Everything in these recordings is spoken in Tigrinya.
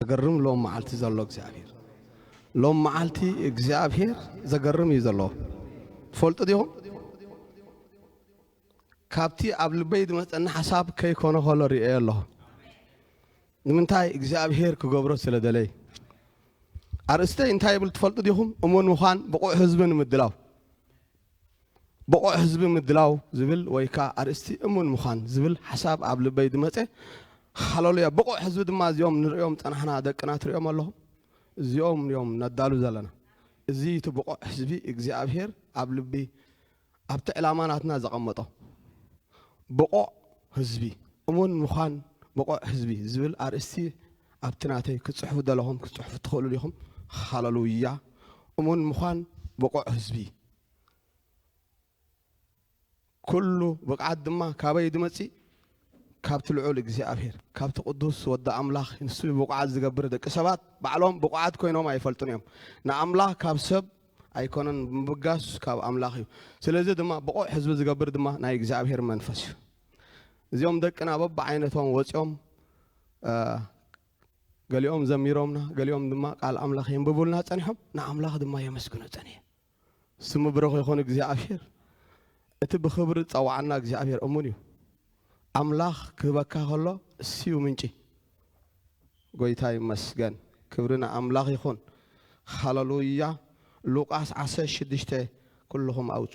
ዘገርም ሎም መዓልቲ ዘሎ እግዚኣብሔር ሎም መዓልቲ እግዚኣብሔር ዘገርም እዩ ዘለዎ ትፈልጡ ዲኹም ካብቲ ኣብ ልበይ ዝመፀኒ ሓሳብ ከይኮነ ከሎ ርእየ ኣለኹ ንምንታይ እግዚኣብሔር ክገብሮ ስለ ደለይ ኣርእስተይ እንታይ ይብል ትፈልጡ ዲኹም እሙን ምዃን ብቑዕ ህዝቢ ንምድላው ብቑዕ ህዝቢ ምድላው ዝብል ወይ ከኣ ኣርእስቲ እሙን ምዃን ዝብል ሓሳብ ኣብ ልበይ ዝመጸ፣ ሃለሉያ! ብቑዕ ህዝቢ ድማ እዚኦም ንርእዮም ዝጸናሕና ደቅና ትርእዮም ኣለኹም? እዚኦም እዮም ነዳሉ ዘለና። እዚ እዩ እቲ ብቑዕ ህዝቢ እግዚኣብሄር ኣብ ልቢ ኣብቲ ዕላማ ናትና ዘቐመጦ። ብቑዕ ህዝቢ፣ እሙን ምዃን ብቑዕ ህዝቢ ዝብል ኣርእስቲ ኣብቲ ናተይ ክትጽሕፉ ዝደለኹም ክትጽሕፉ ትኽእሉ ዲኹም? ሃለሉያ! እሙን ምዃን ብቑዕ ህዝቢ ኩሉ ብቕዓት ድማ ካበይ ድመጽእ? ካብቲ ልዑል እግዚኣብሔር፣ ካብቲ ቅዱስ ወዲ ኣምላኽ፣ ንሱ እዩ ብቑዓት ዝገብር፣ ደቂ ሰባት ባዕሎም ብቑዓት ኮይኖም ኣይፈልጡን እዮም፣ ንኣምላኽ ካብ ሰብ ኣይኮነን ብምብጋስ ካብ ኣምላኽ እዩ፣ ስለዚ ድማ ብቑዕ ህዝቢ ዝገብር ድማ ናይ እግዚኣብሔር መንፈስ እዩ። እዚኦም ደቅና በብዓይነቶም ወጺኦም ገሊኦም ዘሚሮምና፣ ገሊኦም ድማ ቃል ኣምላኽ የንብቡልና ጸኒሖም፣ ንኣምላኽ ድማ የመስግኑ ጸኒሖም። ስሙ ብሩኽ ይኹን እግዚኣብሔር። እቲ ብኽብሪ ዝጸውዓና እግዚኣብሔር እሙን እዩ። ኣምላኽ ክህበካ ከሎ ንሱዩ ምንጪ። ጎይታ ይመስገን ክብሪ ንኣምላኽ ይኹን። ሃለሉያ ሉቃስ ዓሰርተ ሽዱሽተ ኩልኹም ኣውጹ።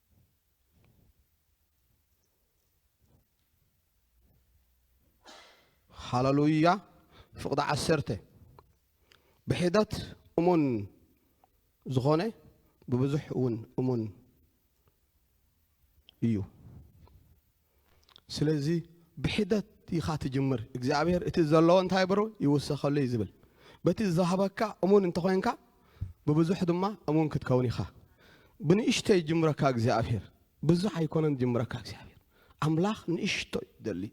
ሃለሉያ ፍቕዲ ዓሰርተ ብሒደት እሙን ዝኾነ ብብዙሕ እውን እሙን እዩ። ስለዚ ብሒደት ኢኻ ትጅምር እግዚኣብሔር እቲ ዘለዎ እንታይ በሮ ይውሰኸሉ እዩ ዝብል በቲ ዝሃበካ እሙን እንተኾይንካ ብብዙሕ ድማ እሙን ክትከውን ኢኻ ብንእሽቶ ይጅምረካ እግዚኣብሔር ብዙሕ ኣይኮነን ጅምረካ እግዚኣብሔር ኣምላኽ ንእሽቶ ይደሊ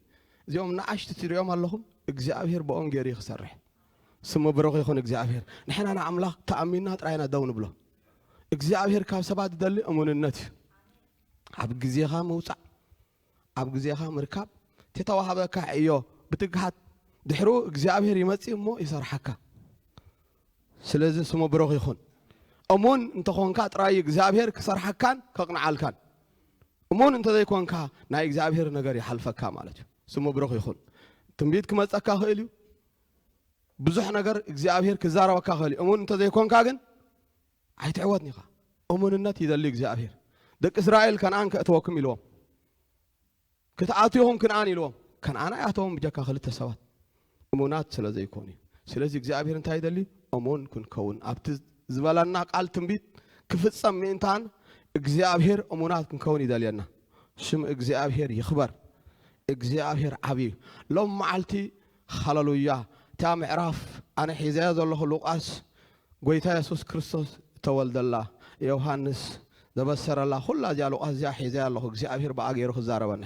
እዚኦም ንኣሽቲ ትሪኦም ኣለኹም እግዚኣብሔር ብኦም ገይሩ እዩ ክሰርሕ ስሙ ብሩኽ ይኹን እግዚኣብሔር ንሕና ንኣምላኽ ተኣሚንና ጥራይና ደው ንብሎ እግዚኣብሔር ካብ ሰባት ዝደሊ እሙንነት እዩ ኣብ ግዜኻ ምውጻእ ኣብ ግዜኻ ምርካብ እቲ ተዋህበካ ዕዮ ብትግሃት ድሕሩ እግዚኣብሔር ይመጽእ እሞ ይሰርሓካ ስለዚ ስሙ ብሩኽ ይኹን እሙን እንተኾንካ ጥራይ እግዚኣብሔር ክሰርሓካን ከቕንዓልካን እሙን እንተዘይኮንካ ናይ እግዚኣብሔር ነገር ይሓልፈካ ማለት እዩ ስሙ ብሩኽ ይኹን ትንቢት ክመፀካ ክእል እዩ ብዙሕ ነገር እግዚኣብሔር ክዛረበካ ክእል እዩ እሙን እንተዘይኮንካ ግን ኣይትዕወት ኒኻ እሙንነት እዩ ዘድልዩ እግዚኣብሄር ደቂ እስራኤል ከነኣን ከእተወኩም ኢልዎም ክትኣትኹም ክንኣን ኢልዎም ከነኣን ኣይኣተዎም ብጀካ ክልተ ሰባት እሙናት ስለ ዘይኮኑ እዩ ስለዚ እግዚኣብሄር እንታይ ይደልዩ እሙን ክንከውን ኣብቲ ዝበለና ቃል ትንቢት ክፍጸም ምእንታን እግዚኣብሄር እሙናት ክንከውን ይደልየና ሽም እግዚኣብሄር ይኽበር እግዚኣብሄር ዓብዩ ሎም መዓልቲ ሃለሉያ እታ ምዕራፍ ኣነ ሒዘያ ዘለኹ ሉቃስ ጎይታ የሱስ ክርስቶስ እተወልደላ ዮውሃንስ ዘበሰረላ ኩላ እዚኣ ሉቃስ እዚኣ ሒዘያ ኣለኹ እግዚኣብሄር ብኣ ገይሩ ክዛረበኒ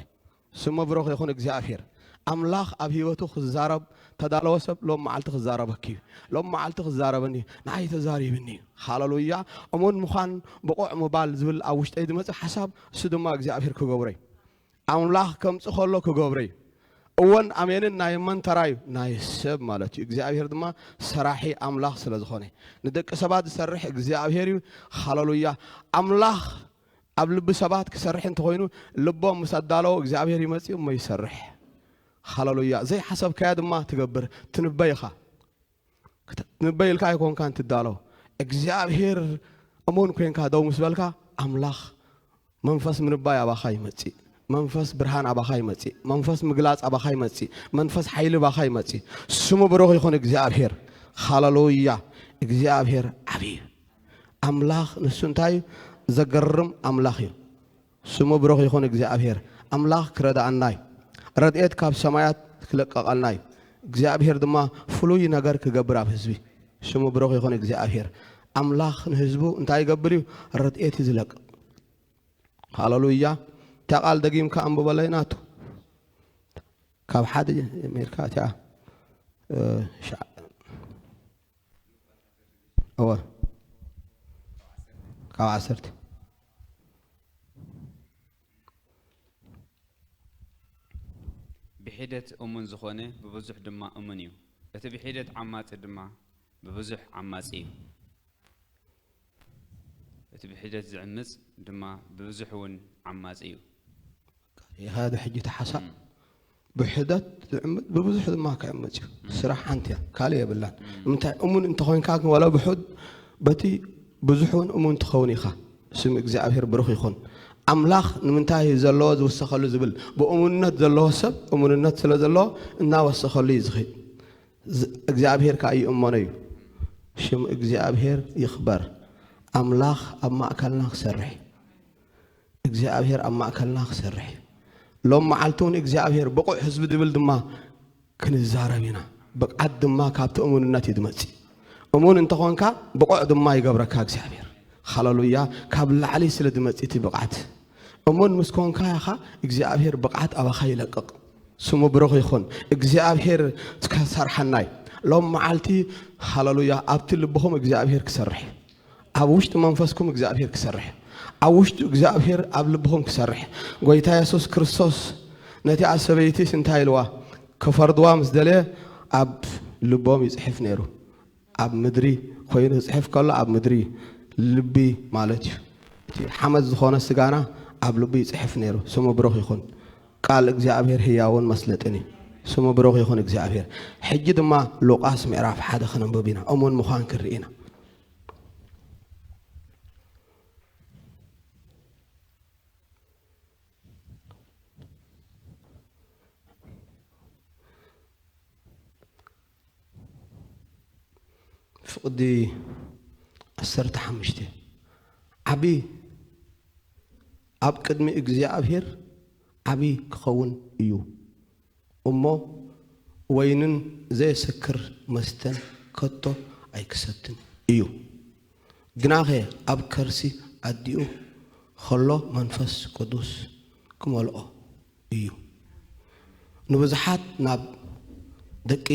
ስሙ ብሩኽ ይኹን እግዚኣብሄር ኣምላኽ ኣብ ህይወቱ ክዛረብ ተዳለወ ሰብ ሎም መዓልቲ ክዛረበኪ እዩ ሎም መዓልቲ ክዛረበኒ እዩ ንዓይ ተዛሪብኒ እዩ ሃለሉያ እሙን ምዃን ብቑዕ ምባል ዝብል ኣብ ውሽጠይ ዝመፅእ ሓሳብ እሱ ድማ እግዚኣብሄር ክገብሮ እዩ ኣምላኽ ከምጽእ ከሎ ክገብሮ እዩ። እወን ኣሜንን ናይ መን ተራ እዩ? ናይ ሰብ ማለት እዩ። እግዚኣብሔር ድማ ሰራሒ ኣምላኽ ስለ ዝኾነ እዩ። ንደቂ ሰባት ዝሰርሕ እግዚኣብሔር እዩ። ሃለሉያ! ኣምላኽ ኣብ ልቢ ሰባት ክሰርሕ እንተኾይኑ ልቦም ምስ ኣዳለዎ እግዚኣብሔር ይመጽእ እሞ ይሰርሕ። ሃለሉያ! ዘይሓሰብካዮ ድማ ትገብር ትንበይ ኢኻ። ክትንበይ ኢልካ ኣይኮንካን ትዳሎ እግዚኣብሄር እሙን ኮንካ ደው ምስ በልካ ኣምላኽ መንፈስ ምንባይ ኣባኻ ይመጽእ መንፈስ ብርሃን ኣባኻ ይመጽእ መንፈስ ምግላጽ ኣባኻ ይመጽእ መንፈስ ሓይሊ ኣባኻ ይመጽእ ስሙ ብሩኽ ይኹን እግዚኣብሄር ሃለሉያ እግዚኣብሄር ዓብዪ ኣምላኽ ንሱ እንታይ እዩ ዘገርም ኣምላኽ እዩ ስሙ ብሩኽ ይኹን እግዚኣብሄር ኣምላኽ ክረድኣና እዩ ረድኤት ካብ ሰማያት ክልቀቀልና እዩ እግዚኣብሄር ድማ ፍሉይ ነገር ክገብር ኣብ ህዝቢ ስሙ ብሩኽ ይኹን እግዚኣብሄር ኣምላኽ ንህዝቡ እንታይ ይገብር እዩ ረድኤት እዩ ዝለቅቕ ሃለሉያ እታ ቃል ደጊምካ ኣንብበለይ ናቱ ካብ ሓደ ጀሚርካ እቲኣ እወ ካብ ዓሰርተ ብሒደት እሙን ዝኾነ ብብዙሕ ድማ እሙን እዩ፣ እቲ ብሒደት ዓማጺ ድማ ብብዙሕ ዓማጺ እዩ። እቲ ብሒደት ዝዕምጽ ድማ ብብዙሕ እውን ዓማጺ እዩ። ኢኻ ዶ ሕጂ ተሓሳእ ብሕደት ዝዕምት ብብዙሕ ድማ ክዕምፅ እዩ ስራሕ ሓንቲ እያ ካልእ የብላን ንምንታይ እሙን እንተኮይንካ ግን ዋላ ብሑድ በቲ ብዙሕ እውን እሙን ትኸውን ኢኻ ስም እግዚኣብሔር ብሩኽ ይኹን ኣምላኽ ንምንታይ ዘለዎ ዝውሰኸሉ ዝብል ብእሙንነት ዘለዎ ሰብ እሙንነት ስለ ዘለዎ እናወሰኸሉ እዩ ዝኽድ እግዚኣብሔር ከዓ ይእመኖ እዩ ሽም እግዚኣብሔር ይኽበር ኣምላኽ ኣብ ማእከልና ክሰርሕ እግዚኣብሔር ኣብ ማእከልና ክሰርሕ እዩ ሎም መዓልቲ እውን እግዚኣብሔር ብቑዕ ህዝቢ ድብል ድማ ክንዛረብ ኢና ብቕዓት ድማ ካብቲ እሙንነት እዩ ድመጽእ እሙን እንተኾንካ ብቑዕ ድማ ይገብረካ እግዚኣብሔር ሃለሉያ ካብ ላዕሊ ስለ ድመጽእ እቲ ብቕዓት እሙን ምስ ኮንካ ኢኻ እግዚኣብሔር ብቕዓት ኣባኻ ይለቅቕ ስሙ ብሩኽ ይኹን እግዚኣብሔር ከሰርሓናይ ሎም መዓልቲ ሃለሉያ ኣብቲ ልብኹም እግዚኣብሔር ክሰርሕ እዩ ኣብ ውሽጢ መንፈስኩም እግዚኣብሔር ክሰርሕ ኣብ ውሽጢ እግዚኣብሔር ኣብ ልብኹም ክሰርሕ ጎይታ የሱስ ክርስቶስ ነቲኣ ሰበይቲስ እንታይ ኢልዋ ክፈርድዋ ምስ ደለየ ኣብ ልቦም ይጽሕፍ ነይሩ ኣብ ምድሪ ኮይኑ ክጽሕፍ ከሎ ኣብ ምድሪ ልቢ ማለት እዩ እቲ ሓመድ ዝኾነ ስጋና ኣብ ልቢ ይጽሕፍ ነይሩ ስሙ ብሩኽ ይኹን ቃል እግዚኣብሔር ህያውን መስለጥን እዩ ስሙ ብሩኽ ይኹን እግዚኣብሔር ሕጂ ድማ ሉቃስ ምዕራፍ ሓደ ክንንብብ ኢና እሙን ምዃን ክንርኢ ኢና ፍቕዲ ዓሰርተ ሓሙሽተ ዓቢ ኣብ ቅድሚ እግዚኣብሔር ዓቢ ክኸውን እዩ። እሞ ወይንን ዘየሰክር መስተን ከቶ ኣይክሰትን እዩ። ግናኸ ኣብ ከርሲ ኣዲኡ ኸሎ መንፈስ ቅዱስ ክመልኦ እዩ። ንብዙሓት ናብ ደቂ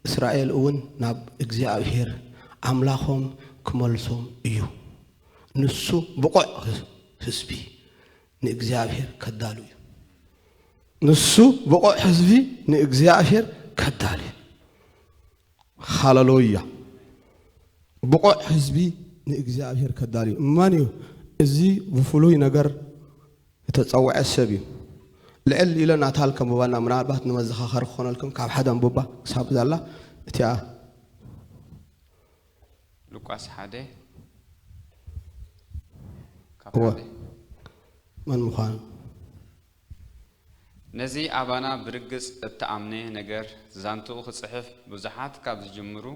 እስራኤል እውን ናብ እግዚኣብሄር ኣምላኾም ክመልሶም እዩ። ንሱ ብቑዕ ህዝቢ ንእግዚኣብሔር ከዳሉ እዩ ንሱ ብቑዕ ህዝቢ ንእግዚኣብሔር ከዳሉ እዩ ሃለሎያ ብቑዕ ህዝቢ ንእግዚኣብሔር ከዳሉ እዩ መን እዩ እዚ ብፍሉይ ነገር እተፀውዐ ሰብ እዩ ልዕል ኢለ ናታል ከንብባና ምናልባት ንመዘኻኸሪ ክኾነልኩም ካብ ሓደ ኣንብባ ክሳብ ዛላ እቲኣ ሉቃስ ሓደ ካብ እወ ሓደ መን ምዃን? ነዚ ኣባና ብርግጽ እተኣምነ ነገር ዛንትኡ ክጽሕፍ ብዙሓት ካብ ዝጅምሩ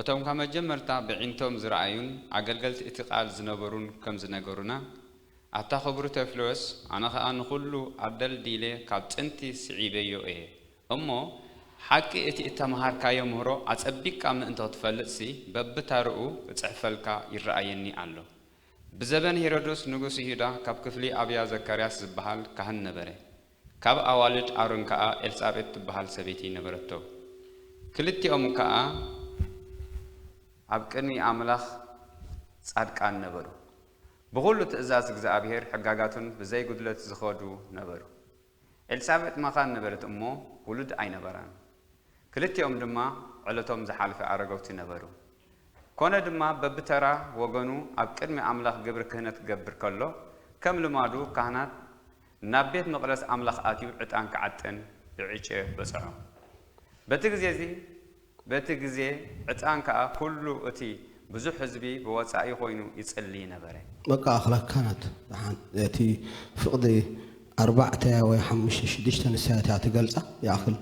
እቶም ካብ መጀመርታ በዒንቶም ዝረኣዩን ኣገልገልቲ እቲ ቃል ዝነበሩን ከም ዝነገሩና ኣታ ክቡር ተዮፍሎስ ኣነ ከኣ ንኹሉ ኣደልዲለ ካብ ጥንቲ ስዒበዮ እየ እሞ ሓቂ እቲ እተመሃርካዮ ምህሮ ኣጸቢቕካ ምእንቶ ትፈልጥሲ በብታርኡ እጽሕፈልካ ይረኣየኒ ኣሎ። ብዘበን ሄሮዶስ ንጉስ ይሁዳ ካብ ክፍሊ ኣብያ ዘካርያስ ዝበሃል ካህን ነበረ። ካብ ኣዋልድ ኣሮን ከኣ ኤልሳቤጥ ትበሃል ሰበይቲ ነበረቶ። ክልቲኦም ከኣ። ኣብ ቅድሚ ኣምላኽ ጻድቃን ነበሩ። ብኹሉ ትእዛዝ እግዚኣብሔር ሕጋጋቱን ብዘይ ጉድለት ዝኸዱ ነበሩ። ኤልሳቤጥ መኻን ነበረት እሞ ውሉድ ኣይነበራን። ክልቲኦም ድማ ዕለቶም ዝሓልፈ ኣረገውቲ ነበሩ። ኮነ ድማ በብተራ ወገኑ ኣብ ቅድሚ ኣምላኽ ግብሪ ክህነት ክገብር ከሎ ከም ልማዱ ካህናት ናብ ቤት መቕደስ ኣምላኽ ኣትዩ ዕጣን ክዓጥን ብዕጨ በጽሖ። በቲ ግዜ እዚ። በቲ ግዜ ዕጣን ከኣ ኩሉ እቲ ብዙሕ ሕዝቢ ብወጻኢ ኮይኑ ይጽሊ ነበረ። በቃ ኣኽላ ካናት ደሓን እቲ ፍቅዲ ኣርባዕተ ወይ ሓሙሽተ ሽዱሽተ ንሳ እቲኣ ትገልጻ ይኣኽል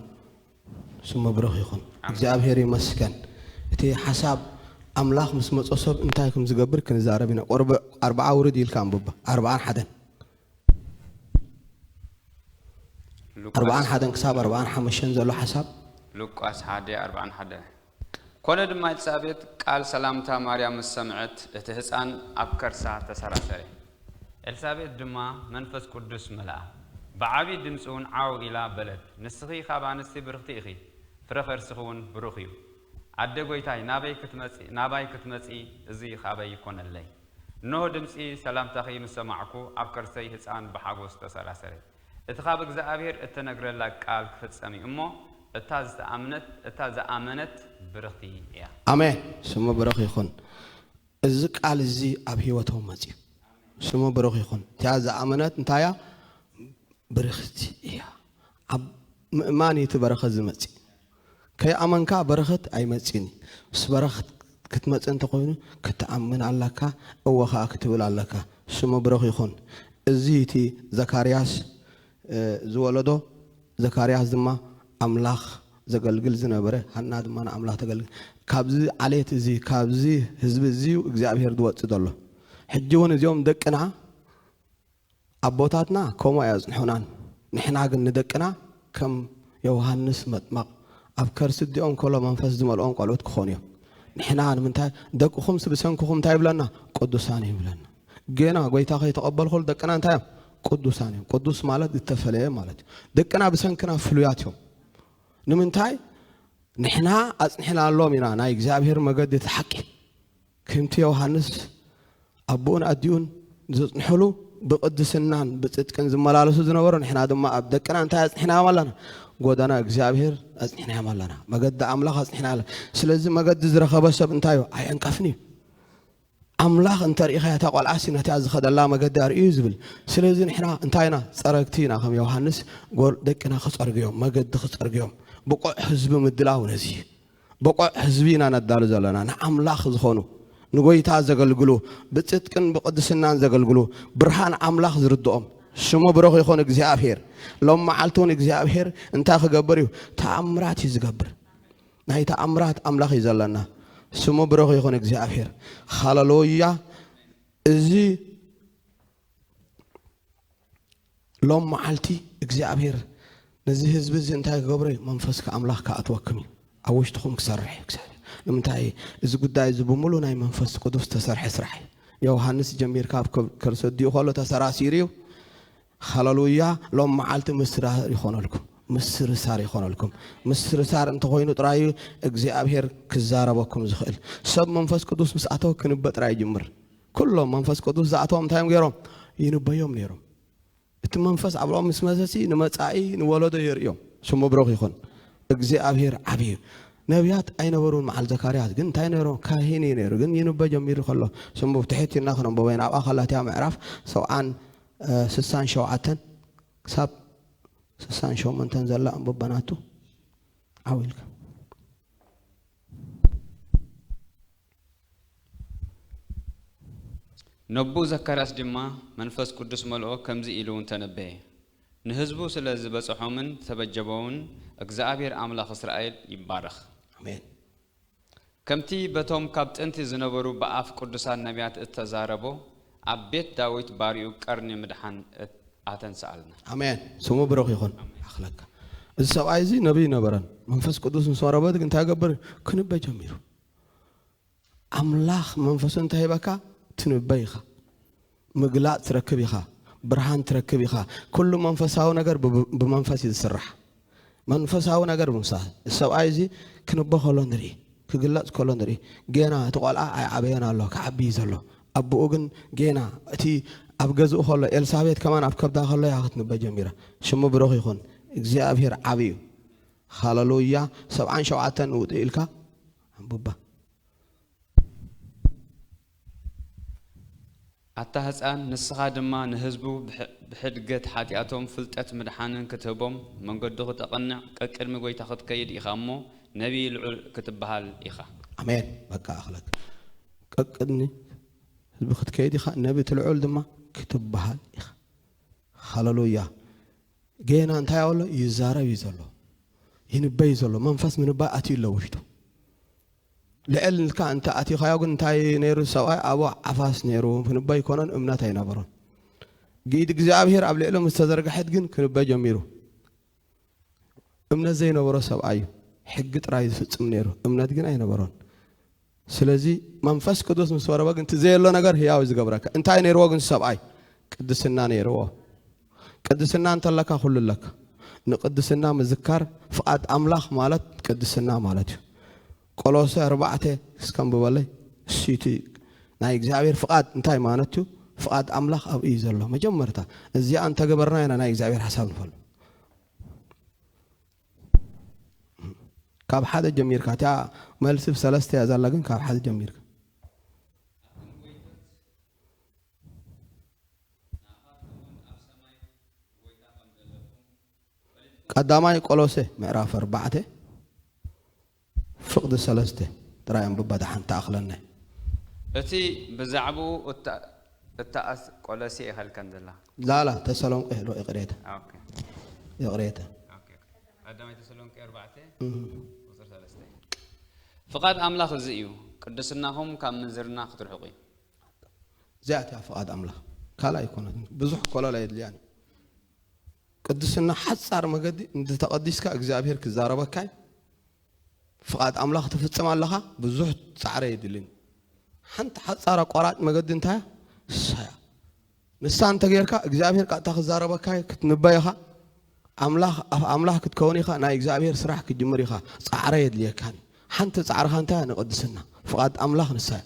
ስሙ ብሩኽ ይኹን እግዚኣብሄር ይመስገን እቲ ሓሳብ ኣምላኽ ምስ መጾ ሰብ እንታይ ከም ዝገብር ክንዛረብ ኢና ቁርብ ኣርብዓ ውርድ ኢልካ ኣንብባ ኣርብዓን ሓደን ኣርብዓን ሓደን ክሳብ ኣርብዓን ሓመሽተን ዘሎ ሓሳብ። ሉቃስ ሓደ ኣርብዓን ሓደን ኮነ ድማ ኤልሳቤጥ ቃል ሰላምታ ማርያም ምስ ሰምዐት እቲ ህጻን ኣብ ከርሳ ተሰራሰረ። ኤልሳቤጥ ድማ መንፈስ ቅዱስ መልኣ፣ ብዓቢ ድምጺውን ዓው ኢላ በለት፣ ንስኺ ኻብ ኣንስቲ ብርኽቲ ኢኺ፣ ፍረ ኸርስኺውን ብሩኽ እዩ። ኣደ ጎይታይ ናበይ ክትመጺ ናባይ ክትመጺ እዚ ካበይ ይኮነለይ እነሆ ድምጺ ሰላምታኺ ምስ ሰማዕኩ ኣብ ከርሰይ ህጻን ብሓጎስ ተሰራሰረ እቲ ካብ እግዝኣብሄር እተነግረላ ቃል ክፍጸም እዩ እሞ እታ ዝተኣምነት እታ ዝኣመነት ብርኽቲ እያ። ኣሜን ስሙ ብሩኽ ይኹን እዚ ቃል እዚ ኣብ ሂወቶም መጽዩ ስሙ ብሩኽ ይኹን እቲኣ ዝኣመነት እንታይ እያ ብርኽቲ እያ ኣብ ምእማን እዩ እቲ በረኸት ዝመጽእ። ከይኣመንካ በረኸት ኣይመጽእን እዩ። ምስ በረኸት ክትመጽእ እንተኾይኑ ክትኣምን ኣላካ እወ ከኣ ክትብል ኣለካ። ስሙ ብሩኽ ይኹን። እዚ እቲ ዘካርያስ ዝወለዶ ዘካርያስ ድማ ኣምላኽ ዘገልግል ዝነበረ ሃና ድማ ንኣምላኽ ተገልግል። ካብዚ ዓሌት እዚ ካብዚ ህዝቢ እዚ እዩ እግዚኣብሄር ዝወጽእ ዘሎ። ሕጂ እውን እዚኦም ደቅና ኣቦታትና ከምኡ ኣየጽንሑናን፣ ንሕና ግን ንደቅና ከም የውሃንስ መጥመቕ ኣብ ከርሲ ኣዲኦም ከሎ መንፈስ ዝመልኦም ቆልዑት ክኾኑ እዮም። ንሕና ንምንታይ ደቅኹምስ ብሰንክኹም እንታይ ይብለና? ቅዱሳን እዮም ይብለና። ገና ጎይታ ከይተቐበሉ ከሎ ደቅና እንታይ እዮም? ቅዱሳን እዮም። ቅዱስ ማለት ዝተፈለየ ማለት እዩ። ደቅና ብሰንክና ፍሉያት እዮም። ንምንታይ ንሕና ኣጽኒሕናሎም ኢና ናይ እግዚኣብሔር መገዲ እቲ ሓቂ ክምቲ ዮሃንስ ኣቦኡን ኣዲኡን ዘጽንሑሉ ብቅድስናን ብጽድቅን ዝመላለሱ ዝነበሩ ንሕና ድማ ኣብ ደቅና እንታይ ኣጽኒሕናዮም ኣለና? ጎደና እግዚኣብሔር ኣጽኒሕናዮም ኣለና። መገዲ ኣምላኽ ኣጽኒሕና ኣለና። ስለዚ መገዲ ዝረኸበ ሰብ እንታይ እዩ? ኣይዕንቀፍን እዩ። ኣምላኽ እንተርኢኻ እታ ቆልዓሲ ነታ ዝኸደላ መገዲ ኣርእዩ ዝብል ስለዚ ንሕና እንታይ ኢና ፀረግቲ ኢና ከም ዮሃንስ ደቅና ክፀርግዮም መገዲ ክፀርግዮም ብቑዕ ህዝቢ ምድላው ነዚ ብቑዕ ህዝቢ ኢና ነዳሉ ዘለና፣ ንኣምላኽ ዝኾኑ፣ ንጎይታ ዘገልግሉ፣ ብጽድቅን ብቕድስናን ዘገልግሉ፣ ብርሃን ኣምላኽ ዝርድኦም። ስሙ ብሩኽ ይኹን እግዚኣብሄር። ሎም መዓልቲ እውን እግዚኣብሄር እንታይ ክገብር እዩ? ተኣምራት እዩ ዝገብር። ናይ ተኣምራት ኣምላኽ እዩ ዘለና። ስሙ ብሩኽ ይኹን እግዚኣብሄር። ሃለሉያ እዚ ሎም መዓልቲ እግዚኣብሄር ነዚ ህዝቢ እዚ እንታይ ክገብሮ እዩ? መንፈስካ ኣምላኽ ክኣትወክም እዩ። ኣብ ውሽጥኹም ክሰርሕ እዩ እግዚኣብሄር። ንምንታይ? እዚ ጉዳይ እዚ ብምሉ ናይ መንፈስ ቅዱስ ዝተሰርሐ ስራሕ እዩ። ዮውሃንስ ጀሚርካ ኣብ ከርሲ ኣዲኡ ከሎ ተሰራሲሩ እዩ። ሃለሉያ! ሎም መዓልቲ ምስራር ይኾነልኩም። ምስርሳር ይኾነልኩም። ምስርሳር እንተኾይኑ ጥራይ እዩ እግዚኣብሄር ክዛረበኩም ዝኽእል። ሰብ መንፈስ ቅዱስ ምስ ኣተወ ክንበ ጥራይ ይጅምር። ኩሎም መንፈስ ቅዱስ ዝኣተዎም እንታይ እዮም ገይሮም? ይንበዮም ነይሮም። እቲ መንፈስ ኣብኦም ምስ መሰሲ ንመጻኢ ንወለዶ የርእዮም። ስሙ ብሩኽ ይኹን። እግዚኣብሔር ዓብዪ እዩ። ነቢያት ኣይነበሩን መዓል ዘካርያስ ግን እንታይ ነይሩ? ካህን እዩ ነይሩ። ግን ይንበ ጀሚሩ ከሎ ስሙ ብትሕት ኢልና ክንንበቦ ኢና። ኣብኣ ከላትያ ምዕራፍ ሰብዓን ስሳን ሸውዓተን ክሳብ ስሳን ሸሞንተን ዘላ ኣንብበናቱ ዓው ኢልካ ነቡ ዘካርያስ ድማ መንፈስ ቅዱስ መልኦ ከምዚ ኢሉውን ተነበየ፣ ንህዝቡ ስለ ዝበጸሖምን ዝተበጀቦውን እግዝኣብሄር ኣምላኽ እስራኤል ይባረኽ። ኣሜን። ከምቲ በቶም ካብ ጥንቲ ዝነበሩ ብኣፍ ቅዱሳን ነብያት እተዛረቦ፣ ኣብ ቤት ዳዊት ባርዩ ቀርኒ ምድሓን ኣተንስኣልና። ኣሜን ስሙ ብሩኽ ይኹን። ኣኽለካ እዚ ሰብኣይ እዚ ነብይ ነበረን መንፈስ ቅዱስ ምስ ወረበት ግን እንታይ ገብር ክንበ ጀሚሩ። ኣምላኽ መንፈሱ እንታይ ሂበካ? ትንበይ ኢኻ፣ ምግላጽ ትረክብ ኢኻ፣ ብርሃን ትረክብ ኢኻ። ኩሉ መንፈሳዊ ነገር ብመንፈስ እዩ ዝስራሕ። መንፈሳዊ ነገር ምሳ ሰብኣይ እዚ ክንቦ ከሎ ንርኢ፣ ክግለጽ ከሎ ንርኢ። ጌና እቲ ቆልዓ ኣይዓበየን ኣሎ፣ ክዓቢ እዩ ዘሎ። ኣቦኡ ግን ጌና እቲ ኣብ ገዝኡ ከሎ ኤልሳቤት ከማን ኣብ ከብዳ ከሎ እያ ክትንበ ጀሚራ። ሽሙ ብሩኽ ይኹን፣ እግዚኣብሄር ዓቢ እዩ። ሃለሉያ ሰብዓን ሸውዓተን ውጥ ኢልካ ኣንቡባ። ኣታ ህጻን ንስኻ ድማ ንህዝቡ ብሕድገት ሓጢኣቶም ፍልጠት ምድሓንን ክትህቦም መንገዱ ክተቕንዕ ቀቅድሚ ጎይታ ክትከይድ ኢኻ እሞ ነቢይ ልዑል ክትብሃል ኢኻ። ኣሜን በቃ ኣኽለክ ቀቅድሚ ህዝቢ ክትከይድ ኢኻ ነቢ ትልዑል ድማ ክትብሃል ኢኻ ሃለሉያ ጌና እንታይ ኣብ ኣሎ ይዛረብ እዩ ዘሎ ይንበይ እዩ ዘሎ መንፈስ ምንባይ ኣትዩ ኣሎ ውሽጡ ልዕል ንልካ እንተ ኣትኻዮ ግን እንታይ ነይሩ ሰብኣይ ኣብ ዓፋስ ነይሩ ክንበይ ኮነን እምነት ኣይነበሮን ግኢድ እግዚኣብሄር ኣብ ልዕሎ ምስ ተዘርግሐት ግን ክንበይ ጀሚሩ እምነት ዘይነበሮ ሰብኣይ እዩ ሕጊ ጥራይ ዝፍፅም ነይሩ እምነት ግን ኣይነበሮን ስለዚ መንፈስ ቅዱስ ምስ ወረበ ግን እቲ ዘየሎ ነገር ህያው እዩ ዝገብረካ እንታይ ነይርዎ ግን ሰብኣይ ቅድስና ነይርዎ ቅድስና እንተለካ ኩሉ ኣለካ ንቅድስና ምዝካር ፍቓድ ኣምላኽ ማለት ቅድስና ማለት እዩ ቆሎሰ ኣርባዕተ እስከንብበለይ እሱቲ ናይ እግዚኣብሔር ፍቓድ እንታይ ማለት እዩ ፍቓድ ኣምላኽ ኣብ እዩ ዘሎ መጀመርታ እዚኣ እንተገበርና ኢና ናይ እግዚኣብሔር ሓሳብ ንፈልጥ ካብ ሓደ ጀሚርካ እቲኣ መልሲ ሰለስተ እያ ዛላ ግን ካብ ሓደ ጀሚርካ ቀዳማይ ቆሎሴ ምዕራፍ ኣርባዕተ ፍቕዲ ሰለስተ ጥራይ ኣንብባ ደሓን ትኣኽለና እያ። እቲ ብዛዕብኡ እተኣስ ቆለሴ ይኸልከን ዘላ። ላላ ተሰሎንቄ ዶ ይቕሬታ ይቕሬታ። ቀዳማይ ተሰሎንቄ ኣርባዕተ ቁጽሪ ሰለስተ። ፍቓድ ኣምላኽ እዚ እዩ፣ ቅድስናኹም ካብ ምንዝርና ክትርሕቁ እዩ። እዚኣት እያ ፍቓድ ኣምላኽ ካልእ ኣይኮነትን። ብዙሕ ኮለል ኣየድልያን እዩ። ቅድስና ሓጻር መገዲ እንተተቐዲስካ እግዚኣብሔር ክዛረበካይ ፍቓድ ኣምላኽ ትፍጽም ኣለኻ ብዙሕ ጻዕረ የድልን ሓንቲ ሓጻር ኣቋራጭ መገዲ እንታያ ሳያ ንሳ እንተጌርካ እግዚኣብሔር ቃጥታ ክዛረበካይ ክትንበይኻ ኣምላኽ ኣፍ ኣምላኽ ክትከውን ኢኻ ናይ እግዚኣብሔር ስራሕ ክትጅምር ኢኻ ጻዕረ የድልየካን ሓንቲ ጻዕርኻ እንታያ ንቕድስና ፍቓድ ኣምላኽ ንሳያ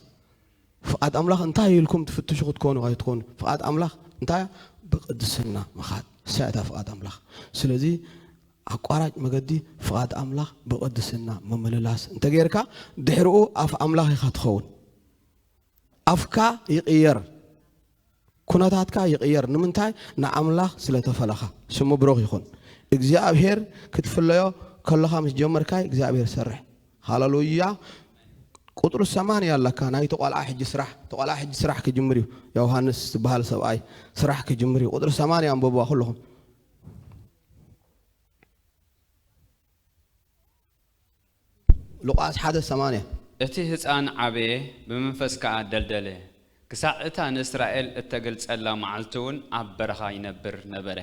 ፍቓድ ኣምላኽ እንታይ እዩ ኢልኩም ትፍትሹ ክትኮኑ ኣይትኾኑ። ፍቓድ ኣምላኽ እንታይ እያ? ብቅድስና ምኻድ፣ እሳ እታ ፍቓድ ኣምላኽ። ስለዚ ኣቋራጭ መገዲ ፍቓድ ኣምላኽ ብቅድስና ምምልላስ እንተገይርካ ድሕርኡ ኣፍ ኣምላኽ ኢኻ ትኸውን። ኣፍካ ይቅየር። ኩነታትካ ይቅየር ንምንታይ ንኣምላኽ ስለ ተፈለኻ ስሙ ብሩኽ ይኹን እግዚኣብሄር ክትፍለዮ ከለኻ ምስ ጀመርካይ እግዚኣብሄር ሰርሕ ሃለሉያ ቁጥሪ ሰማንያ ኣለካ ናይቲ ቆልዓ ሕጂ ስራሕ እቲ ቆልዓ ሕጂ ስራሕ ክጅምር እዩ ዮሃንስ ዝበሃል ሰብኣይ ስራሕ ክጅምር እዩ ቁጥሪ ሰማንያ ኣንበብዋ ኩልኹም ሉቃስ ሓደ ሰማንያ። እቲ ህጻን ዓበየ፣ ብመንፈስ ከኣ ደልደለ፣ ክሳዕ እታ ንእስራኤል እተገልጸላ መዓልቲውን ኣብ በረኻ ይነብር ነበረ።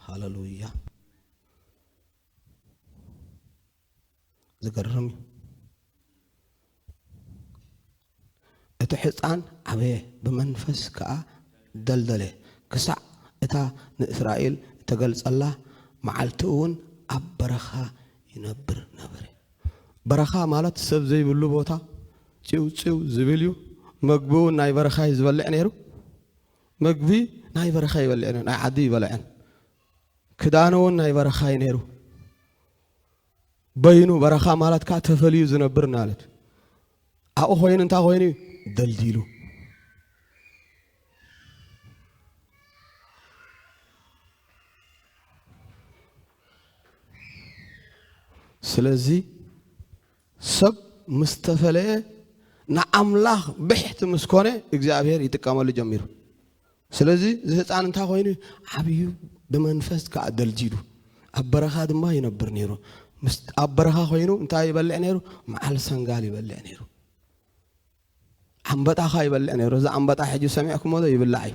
ሃለሉያ ዝገርም እዩ። እቲ ሕፃን ዓበየ፣ ብመንፈስ ከኣ ደልደለ፣ ክሳዕ እታ ንእስራኤል እተገልጸላ መዓልቲ እውን ኣብ በረኻ ይነብር ነበረ። በረኻ ማለት ሰብ ዘይብሉ ቦታ፣ ጺው ጺው ዝብል እዩ፣ መግቢ እውን ናይ በረኻ እዩ ዝበልዕ ነይሩ። መግቢ ናይ በረኻ ይበልዕ ነይሩ፣ ናይ ዓዲ ኣይበልዕን። ክዳኑ እውን ናይ በረኻ እዩ ነይሩ። በይኑ በረኻ ማለት ከዓ ተፈልዩ ዝነብር ማለት ኣብኡ ኮይኑ እንታይ ኮይኑ እዩ ደልዲሉ ስለዚ ሰብ ምስ ተፈለየ ንኣምላኽ ብሕቲ ምስ ኮነ እግዚኣብሔር ይጥቀመሉ ጀሚሩ ስለዚ እዚ ህፃን እንታይ ኮይኑ ዓብዩ ብመንፈስ ከዓ ደልዲሉ ኣብ በረኻ ድማ ይነብር ነይሩ ኣብ በረኻ ኮይኑ እንታይ ይበልዕ ነይሩ መዓል ሰንጋል ይበልዕ ነይሩ ኣንበጣ ካ ይበልዕ ነይሩ እዚ ኣንበጣ ሕጂ ሰሚዕኩሞ ዶ ይብላዕ እዩ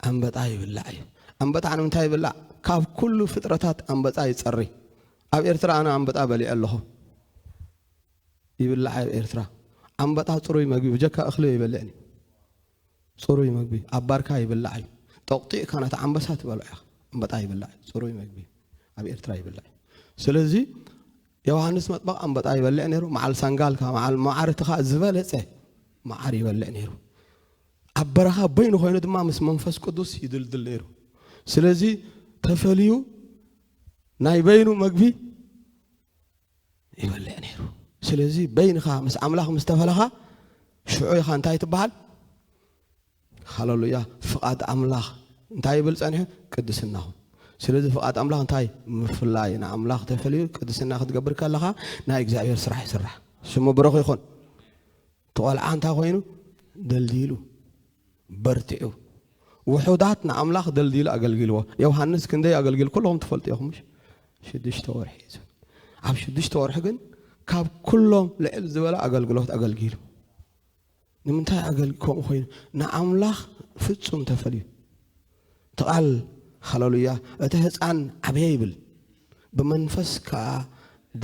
ኣንበጣ ይብላዕ እዩ ኣንበጣ ንምንታይ ይብላዕ ካብ ኩሉ ፍጥረታት ኣንበጣ ይፀሪ ኣብ ኤርትራ ኣነ ኣንበጣ በሊዐ ኣለኹ ይብላዕ ኣብ ኤርትራ ኣንበጣ ፅሩይ መግቢ ብጀካ እኽሊ ይበልዕን እዩ ጽሩይ መግቢ ኣብ ባርካ ይብላዕ እዩ። ጠቑጢዕካ ነቲ ዓምበሳ ትበልዖ ኢኻ። ኣምበጣ ይብላዕ እዩ። ጽሩይ መግቢ እዩ። ኣብ ኤርትራ ይብላዕ እዩ። ስለዚ ዮውሃንስ መጥምቕ ኣምበጣ ይበልዕ ነይሩ። መዓል ሳንጋልካ፣ መዓል መዓርትኻ ዝበለጸ መዓር ይበልዕ ነይሩ። ኣብ በረኻ በይኑ ኮይኑ ድማ ምስ መንፈስ ቅዱስ ይድልድል ነይሩ። ስለዚ ተፈልዩ ናይ በይኑ መግቢ ይበልዕ ነይሩ። ስለዚ በይንኻ ምስ ኣምላኽ ምስ ተፈለኻ ሽዑ ኢኻ እንታይ ትበሃል? ሃለሉያ ፍቓድ ኣምላኽ እንታይ ይብል ጸኒሑ? ቅድስናኹም ስለዚ ፍቓድ ኣምላኽ እንታይ ምፍላይ ንኣምላኽ ተፈልዩ ቅድስና ክትገብር ከለኻ ናይ እግዚኣብሔር ስራሕ ይስራሕ ስሙ ብሩኽ ይኹን። እቲ ቆልዓ እንታይ ኮይኑ ደልዲሉ በርቲዑ ውሑዳት ንኣምላኽ ደልዲሉ ኣገልጊልዎ። ዮውሃንስ ክንደይ ኣገልጊሉ ኩልኹም ትፈልጡ ኢኹም ምሽ? ሽዱሽተ ወርሒ እዩ ዝብል። ኣብ ሽዱሽተ ወርሒ ግን ካብ ኩሎም ልዕል ዝበለ ኣገልግሎት ኣገልጊሉ። ንምንታይ ኣገልግ ከምኡ ኮይኑ ንኣምላኽ ፍጹም ተፈልዩ ትቓል ሃለሉያ እቲ ህፃን ዓበየ ይብል ብመንፈስ ከዓ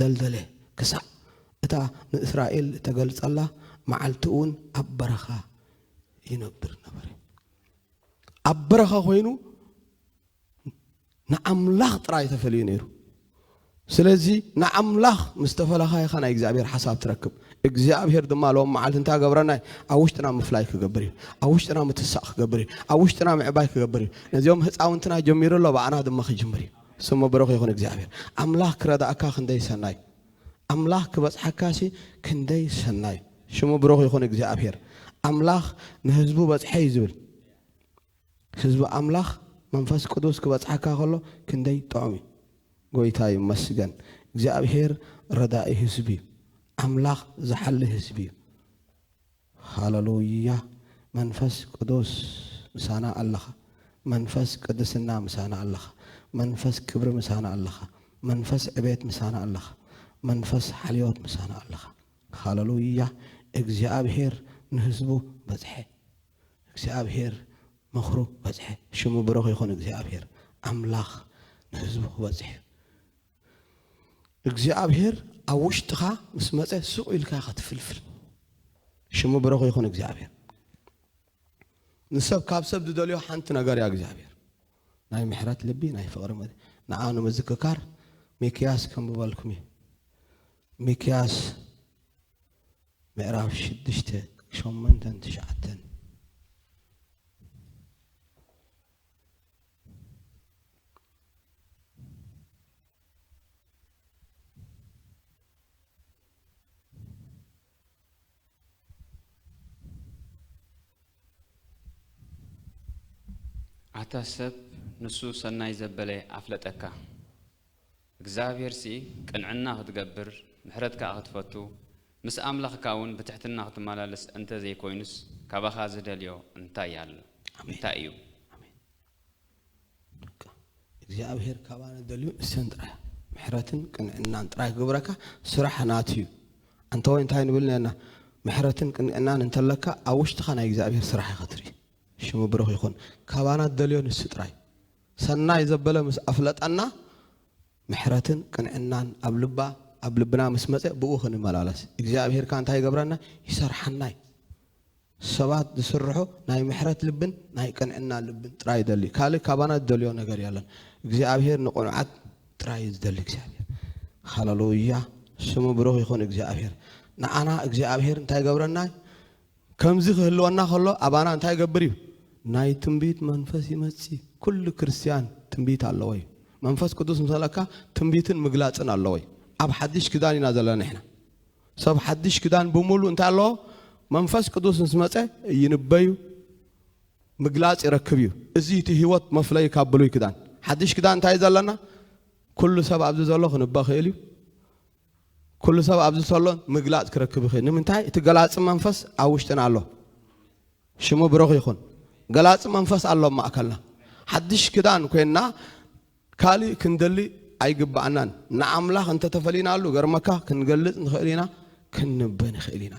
ደልደለ ክሳዕ እታ ንእስራኤል ተገልጸላ መዓልቲ እውን ኣብ በረኻ ይነብር ነበረ። ኣብ በረኻ ኮይኑ ንኣምላኽ ጥራይ ተፈልዩ ነይሩ። ስለዚ ንኣምላኽ ምስ ተፈለኻ ኢኻ ናይ እግዚኣብሔር ሓሳብ ትረክብ እግዚኣብሔር ድማ ሎም መዓልቲ እንታይ ገብረና እዩ ኣብ ውሽጥና ምፍላይ ክገብር እዩ ኣብ ውሽጥና ምትሳእ ክገብር እዩ ኣብ ውሽጥና ምዕባይ ክገብር እዩ ነዚኦም ህፃውንትና ጀሚሩ ኣሎ ብኣና ድማ ክጅምር እዩ ስሙ ብሩኽ ይኹን እግዚኣብሔር ኣምላኽ ክረዳእካ ክንደይ ሰናይ ኣምላኽ ክበጽሓካሲ ክንደይ ሰናይ። ሽሙ ብሩኽ ይኹን እግዚኣብሄር ኣምላኽ ንህዝቡ በጽሐይ ዝብል ህዝቢ ኣምላኽ መንፈስ ቅዱስ ክበጽሓካ ከሎ ክንደይ ጥዑም እዩ። ጎይታ ይመስገን እግዚኣብሄር ረዳኢ ህዝቢ እዩ ኣምላኽ ዝሓሊ ህዝቢ እዩ። ሃለሉያ መንፈስ ቅዱስ ምሳና ኣለኻ መንፈስ ቅድስና ምሳና ኣለኻ መንፈስ ክብሪ ምሳና ኣለኻ መንፈስ ዕቤት ምሳና ኣለኻ መንፈስ ሓልዮት ምሳና ኣለኻ ሃለሉያ እግዚኣብሄር ንህዝቡ በጽሐ እግዚኣብሄር ምኽሩ በጽሐ ሽሙ ብሩኽ ይኹን እግዚኣብሄር ኣምላኽ ንህዝቡ ክበጽሕ እግዚኣብሔር ኣብ ውሽጥኻ ምስ መፀ ሱቕ ኢልካ ኢኻ ትፍልፍል ሽሙ ብረኹ ይኹን እግዚኣብሔር ንሰብ ካብ ሰብ ዝደልዮ ሓንቲ ነገር እያ እግዚኣብሔር ናይ ምሕረት ልቢ ናይ ፍቕሪ መ ንዓ ንምዝክካር ሚክያስ ከምብበልኩም እዩ ሚክያስ ምዕራፍ ሽዱሽተ ሸመንተን ትሽዓተን ኣታ ሰብ ንሱ ሰናይ ዘበለ ኣፍለጠካ። እግዚኣብሄርሲ ቅንዕና ክትገብር ምሕረት ከኣ ክትፈቱ ምስ ኣምላኽካ እውን ብትሕትና ክትመላለስ እንተ ዘይኮይኑስ ካባኻ ዝደልዮ እንታይ ኣሎ? እንታይ እዩ? እግዚኣብሄር ካባና ዝደልዮ ንሰን ጥራይ እያ። ምሕረትን ቅንዕናን ጥራይ ክገብረካ ስራሕ ናቱ እዩ። ኣንተ ወይ እንታይ ንብል ነርና ምሕረትን ቅንዕናን እንተለካ ኣብ ውሽጥኻ ናይ እግዚኣብሄር ስራሕ ኢኻ ትርኢ። ሽሙ ብሩኽ ይኹን። ካባና ዝደልዮ ንሱ ጥራይ እዩ። ሰናይ ዘበለ ምስ ኣፍለጠና ምሕረትን ቅንዕናን ኣብ ልባ ኣብ ልብና ምስ መጸ ብኡ ክንመላለስ እግዚኣብሔር ከ እንታይ ይገብረና ይሰርሓና እዩ ሰባት ዝስርሑ ናይ ምሕረት ልብን ናይ ቅንዕና ልብን ጥራይ ይደሊ እዩ ካልእ ካባና ዝደልዮ ነገር የለን እግዚኣብሔር ንቕኑዓት ጥራይ እዩ ዝደሊ እግዚኣብሔር ሃለሉያ ስሙ ብሩኽ ይኹን እግዚኣብሔር ንዓና እግዚኣብሔር እንታይ ይገብረና ከምዚ ክህልወና ከሎ ኣባና እንታይ ይገብር እዩ? ናይ ትንቢት መንፈስ ይመጽእ። ኩሉ ክርስትያን ትንቢት ኣለዎ እዩ። መንፈስ ቅዱስ ምስ መለካ ትንቢትን ምግላጽን ኣለዎ እዩ። ኣብ ሓድሽ ክዳን ኢና ዘለና ንሕና። ሰብ ሓድሽ ክዳን ብምሉእ እንታይ ኣለዎ? መንፈስ ቅዱስ ምስ መጸ ይንበዩ ምግላጽ ይረክብ እዩ። እዚ እቲ ህይወት መፍለይ ካብ ብሉይ ክዳን። ሓድሽ ክዳን እንታይ እዩ ዘለና? ኩሉ ሰብ ኣብዚ ዘሎ ክንበ ክእል እዩ። ኩሉ ሰብ ኣብዚ ሰሎ ምግላጽ ክረክብ ይኽእል ንምንታይ እቲ ገላጺ መንፈስ ኣብ ውሽጥና ኣሎ ሽሙ ብሩኽ ይኹን ገላጺ መንፈስ ኣሎ ኣብ ማእከልና ሓድሽ ክዳን ኮይንና ካልእ ክንደሊ ኣይግባኣናን ንኣምላኽ እንተተፈሊናሉ ገርመካ ክንገልጽ ንኽእል ኢና ክንንበ ንኽእል ኢና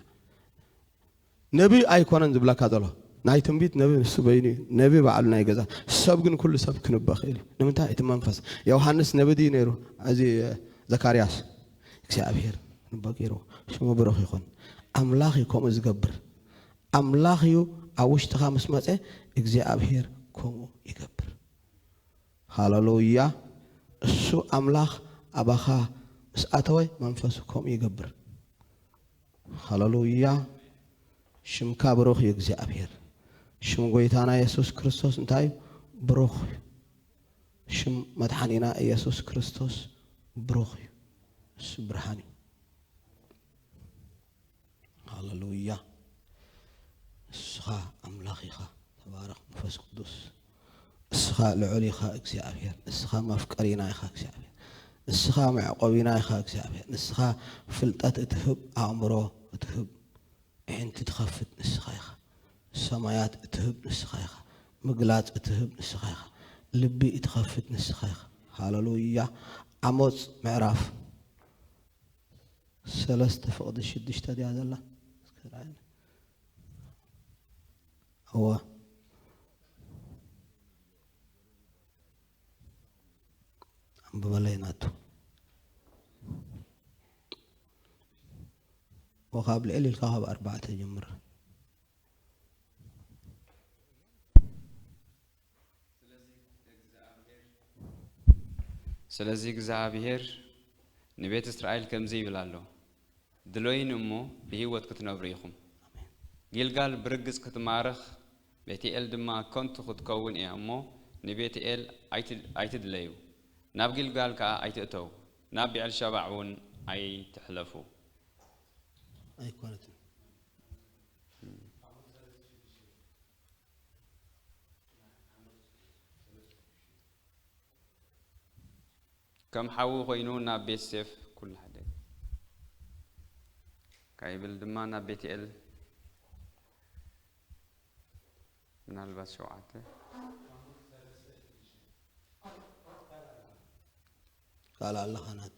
ነብይ ኣይኮነን ዝብለካ ዘሎ ናይ ትንቢት ነብይ ንሱ በይኑ እዩ ነብይ ባዕሉ ናይ ገዛ ሰብ ግን ኩሉ ሰብ ክንበ ክእል እዩ ንምንታይ እቲ መንፈስ ዮሃንስ ነብይ ድዩ ነይሩ እዚ ዘካርያስ እግዚኣብሄር ክንበ ገይሩ ሽሙ ብሩኽ ይኹን ኣምላኽ እዩ ከምኡ ዝገብር ኣምላኽ እዩ ኣብ ውሽጥኻ ምስ መፀ እግዚኣብሄር ከምኡ ይገብር ሃለሉያ እሱ ኣምላኽ ኣባኻ ምስ ኣተወ መንፈሱ ከምኡ ይገብር ሃለሉያ ሽምካ ብሩኽ እዩ እግዚኣብሔር ሽም ጎይታና የሱስ ክርስቶስ እንታይ እዩ ብሩኽ እዩ ሽም መድሓኒና ኢየሱስ ክርስቶስ ብሩኽ እዩ እሱ ብርሃን እዩ ሃለሉያ ንስኻ ኣምላኽ ኢኻ ተባረኽ መንፈስ ቅዱስ እስኻ ልዑል ኢኻ እግዚኣብሔር እስኻ መፍቀሪና ኢኻ እግዚኣብሔር ንስኻ መዕቆቢና ኢኻ እግዚኣብሔር ንስኻ ፍልጠት እትህብ ኣእምሮ እትህብ ኣዒንቲ ትኸፍት ንስኻ ኢኻ ሰማያት እትህብ ንስኻ ኢኻ ምግላጽ እትህብ ንስኻ ኢኻ ልቢ እትኸፍት ንስኻ ኢኻ ሃለሉያ ዓሞፅ ምዕራፍ ሰለስተ ፍቕዲ ሽዱሽተ ድያ ዘላ እወ ኣንብበለይ ናቱ ወካብ ልዕል ኢልካ ካብ ኣርባዕተ ጀምር ስለዚ እግዚኣብሄር ንቤት እስራኤል ከምዚ ይብል ኣሎ፣ ድሎይኒ እሞ ብህይወት ክትነብሩ ኢኹም። ጊልጋል ብርግጽ ክትማረኽ፣ ቤትኤል ድማ ከንቱ ክትከውን እያ እሞ፣ ንቤትኤል ኣይትድለዩ፣ ናብ ጊልጋል ከኣ ኣይትእተዉ፣ ናብ ብዔልሸባዕ እውን ኣይትሕለፉ። ኣይኰነትን። ከም ሓዊ ኮይኑ ናብ ቤት ሴፍ ኩሉ ሓደ ካይብል ድማ ናብ ቤትኤል ምናልባት ሸውዓተ ካልእ ኣለኻ ናቱ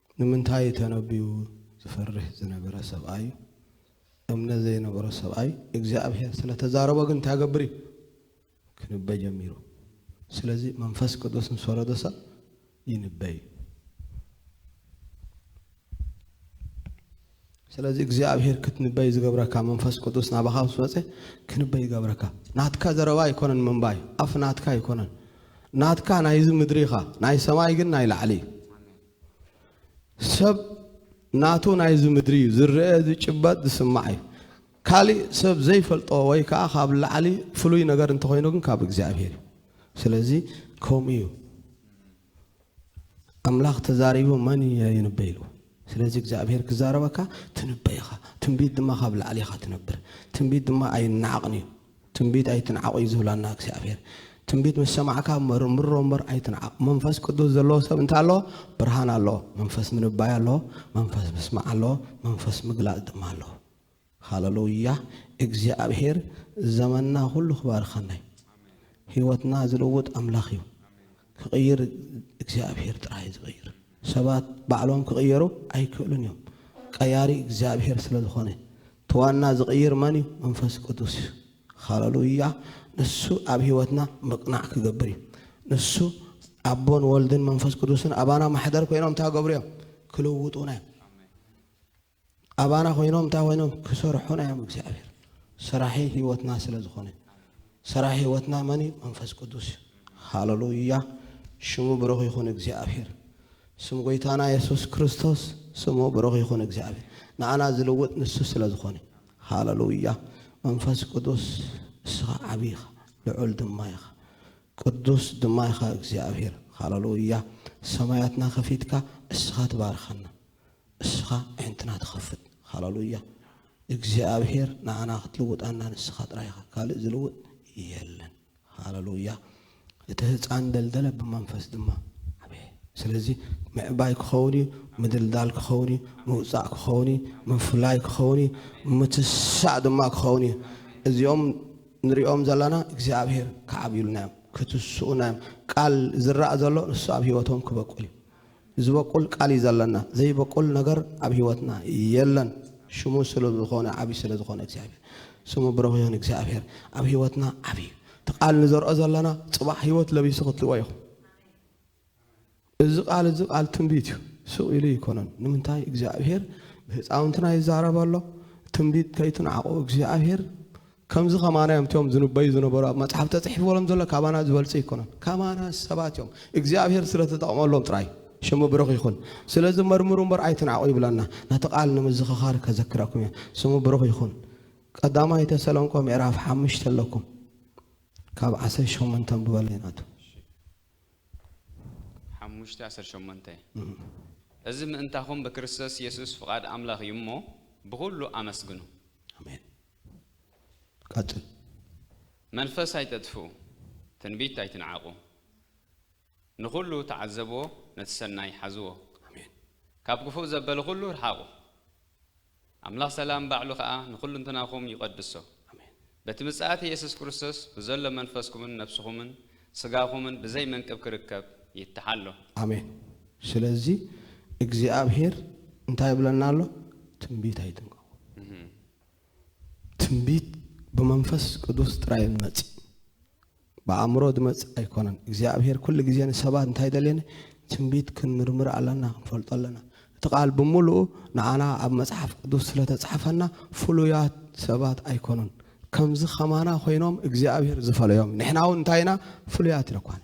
ንምንታይ ተነብዩ ዝፈርህ ዝነበረ ሰብኣይ እምነት ዘይነበሮ ሰብኣይ እግዚኣብሔር ስለ ተዛረቦ ግን እንታይ ገብር እዩ ክንበ ጀሚሩ ስለዚ መንፈስ ቅዱስ ምስ ወረደ ሰብ ይንበ እዩ ስለዚ እግዚኣብሔር ክትንበይ ዝገብረካ መንፈስ ቅዱስ ናባኻ ምስ መፀ ክንበይ ይገብረካ ናትካ ዘረባ ኣይኮነን ምንባይ ኣፍ ናትካ ኣይኮነን ናትካ ናይዚ ምድሪ ኢኻ ናይ ሰማይ ግን ናይ ላዕሊ እዩ ሰብ ናቱ ናይዚ ምድሪ እዩ ዝረአ ዝጭበጥ ዝስማዕ እዩ ካሊእ ሰብ ዘይፈልጦ ወይ ከዓ ካብ ላዕሊ ፍሉይ ነገር እንተኮይኑ ግን ካብ እግዚኣብሄር እዩ ስለዚ ከምኡ እዩ ኣምላኽ ተዛሪቡ መን እየ ይንበይ ኢሉ ስለዚ እግዚኣብሄር ክዛረበካ ትንበይ ኢኻ ትንቢት ድማ ካብ ላዕሊ ኢኻ ትነብር ትንቢት ድማ ኣይነዓቕን እዩ ትንቢት ኣይትንዓቑ እዩ ዝብለና እግዚኣብሔር። ትንቢት ምስ ሰማዕካ መርምሮ እምበር ኣይትንዓቕ። መንፈስ ቅዱስ ዘለዎ ሰብ እንታይ ኣሎ? ብርሃን ኣሎ፣ መንፈስ ምንባይ ኣሎ፣ መንፈስ ምስማዕ ኣሎ፣ መንፈስ ምግላፅ ድማ ኣሎ። ሃለሉያ! እግዚኣብሔር ዘመንና ኩሉ ክባርኸና እዩ። ህይወትና ዝልውጥ ኣምላኽ እዩ። ክቕይር እግዚኣብሄር ጥራይ እዩ ዝቕይር ሰባት ባዕሎም ክቕየሩ ኣይክእሉን እዮም ቀያሪ እግዚኣብሄር ስለ ዝኾነ እቲ ዋና ዝቕይር መን እዩ መንፈስ ቅዱስ እዩ ሃለሉያ ንሱ ኣብ ህይወትና ምቕናዕ ክገብር እዩ ንሱ ኣቦን ወልድን መንፈስ ቅዱስን ኣባና ማሕደር ኮይኖም እንታይ ገብሩ እዮም ክልውጡና እዮም ኣባና ኮይኖም እንታይ ኮይኖም ክሰርሑና እዮም እግዚኣብሔር ሰራሒ ህይወትና ስለ ዝኾነ ሰራሒ ህይወትና መን እዩ መንፈስ ቅዱስ እዩ ሃለሉያ ሽሙ ብሩኽ ይኹን እግዚኣብሔር ስም ጎይታና የሱስ ክርስቶስ ስሙ ብሩኽ ይኹን እግዚኣብሔር ንኣና ዝልውጥ ንሱ ስለ ዝኾነ ሃለሉያ መንፈስ ቅዱስ እስኻ ዓብ ኢኻ ልዑል ድማ ኢኻ ቅዱስ ድማ ኢኻ እግዚኣብሔር ሃለሉያ ሰማያትና ከፊትካ እስኻ ትባርኸና እስኻ ኣዒንትና ትኸፍት ሃላሉያ እግዚኣብሔር ንዓና ክትልውጣና ንስኻ ጥራይ ኢኻ ካልእ ዝልውጥ የለን ሃላሉያ እቲ ህፃን ደልደለ ብመንፈስ ድማ ዓበየ ስለዚ ምዕባይ ክኸውን እዩ ምድልዳል ክኸውን እዩ ምውፃእ ክኸውን እዩ ምፍላይ ክኸውን እዩ ምትሳእ ድማ ክኸውን እዩ እዚኦም ንሪኦም ዘለና እግዚኣብሔር ክዓብዩልና እዮም ክትስኡና እዮም ቃል ዝረኣ ዘሎ ንሱ ኣብ ሂወቶም ክበቁል እዩ ዝበቁል ቃል እዩ ዘለና ዘይበቁል ነገር ኣብ ሂወትና የለን ሽሙ ስሉብ ዝኮነ ዓብይ ስለ ዝኮነ እግዚኣብሔር ስሙ ብሩክ ይኩን እግዚኣብሔር ኣብ ሂወትና ዓብይ እዩ እቲ ቃል ንዘርኦ ዘለና ፅባሕ ሂወት ለቢሱ ክትሪኦ ኢኩም እዚ ቃል እዚ ቃል ትንቢት እዩ ስቅ ኢሉ ይኮነን ንምንታይ እግዚኣብሔር ብህፃውንትና ይዛረብ ኣሎ ትንቢት ከይትንዓቁ እግዚኣብሔር ከምዚ ከማና እዮም እቲኦም ዝንበዩ ዝነበሩ ኣብ መጽሓፍ ተጽሒፍዎም ዘሎ ካባና ዝበልጹ ኣይኮኑን ከማና ሰባት እዮም እግዚኣብሄር ስለ ተጠቕመሎም ጥራይ ሽሙ ብሩኽ ይኹን ስለዚ መርምሩ እምበር ኣይትንዓቑ ይብለና ነቲ ቃል ንምዝኽኻር ከዘክረኩም እየ ስሙ ብሩኽ ይኹን ቀዳማይ ተሰሎንቆ ምዕራፍ ሓሙሽተ ኣለኩም ካብ ዓሰርተ ሸሞንተ ኣንብበለይ ናቱ ሓሙሽተ ዓሰርተ ሸሞንተ እዚ ምእንታኹም ብክርስቶስ የሱስ ፍቓድ ኣምላኽ እዩ እሞ ብዅሉ ኣመስግኑ ኣሜን ቀጽል። መንፈስ ኣይተጥፍኡ ትንቢት ኣይትንዓቁ ንኩሉ ተዓዘብዎ ነቲ ሰናይ ሓዝዎ ካብ ክፉእ ዘበለ ኩሉ ርሓቁ ኣምላኽ ሰላም ባዕሉ ከኣ ንኩሉንትናኩም ይቀድሶ በቲ ምጽኣት ኢየሱስ ክርስቶስ ብዘሎ መንፈስኩምን ነብስኩምን ስጋኩምን ብዘይ መንቅብ ክርከብ ይተሓሎ። ኣሜን ስለዚ እግዚኣብሄር እንታይ ይብለና ኣሎ ትንቢት ኣይትንቀቁ ትንቢት ብመንፈስ ቅዱስ ጥራይ እዩ ዝመጽእ ብኣእምሮ ዝመጽእ ኣይኮነን እግዚኣብሄር ኩሉ ግዜ ንሰባት እንታይ ደልየኒ ትንቢት ክንምርምር ኣለና ክንፈልጦ ኣለና እቲ ቃል ብምሉኡ ንኣና ኣብ መጽሓፍ ቅዱስ ስለ ተጻሕፈና ፍሉያት ሰባት ኣይኮኑን ከምዚ ከማና ኮይኖም እግዚኣብሄር ዝፈለዮም ንሕና እውን እንታይ ኢና ፍሉያት ንኳን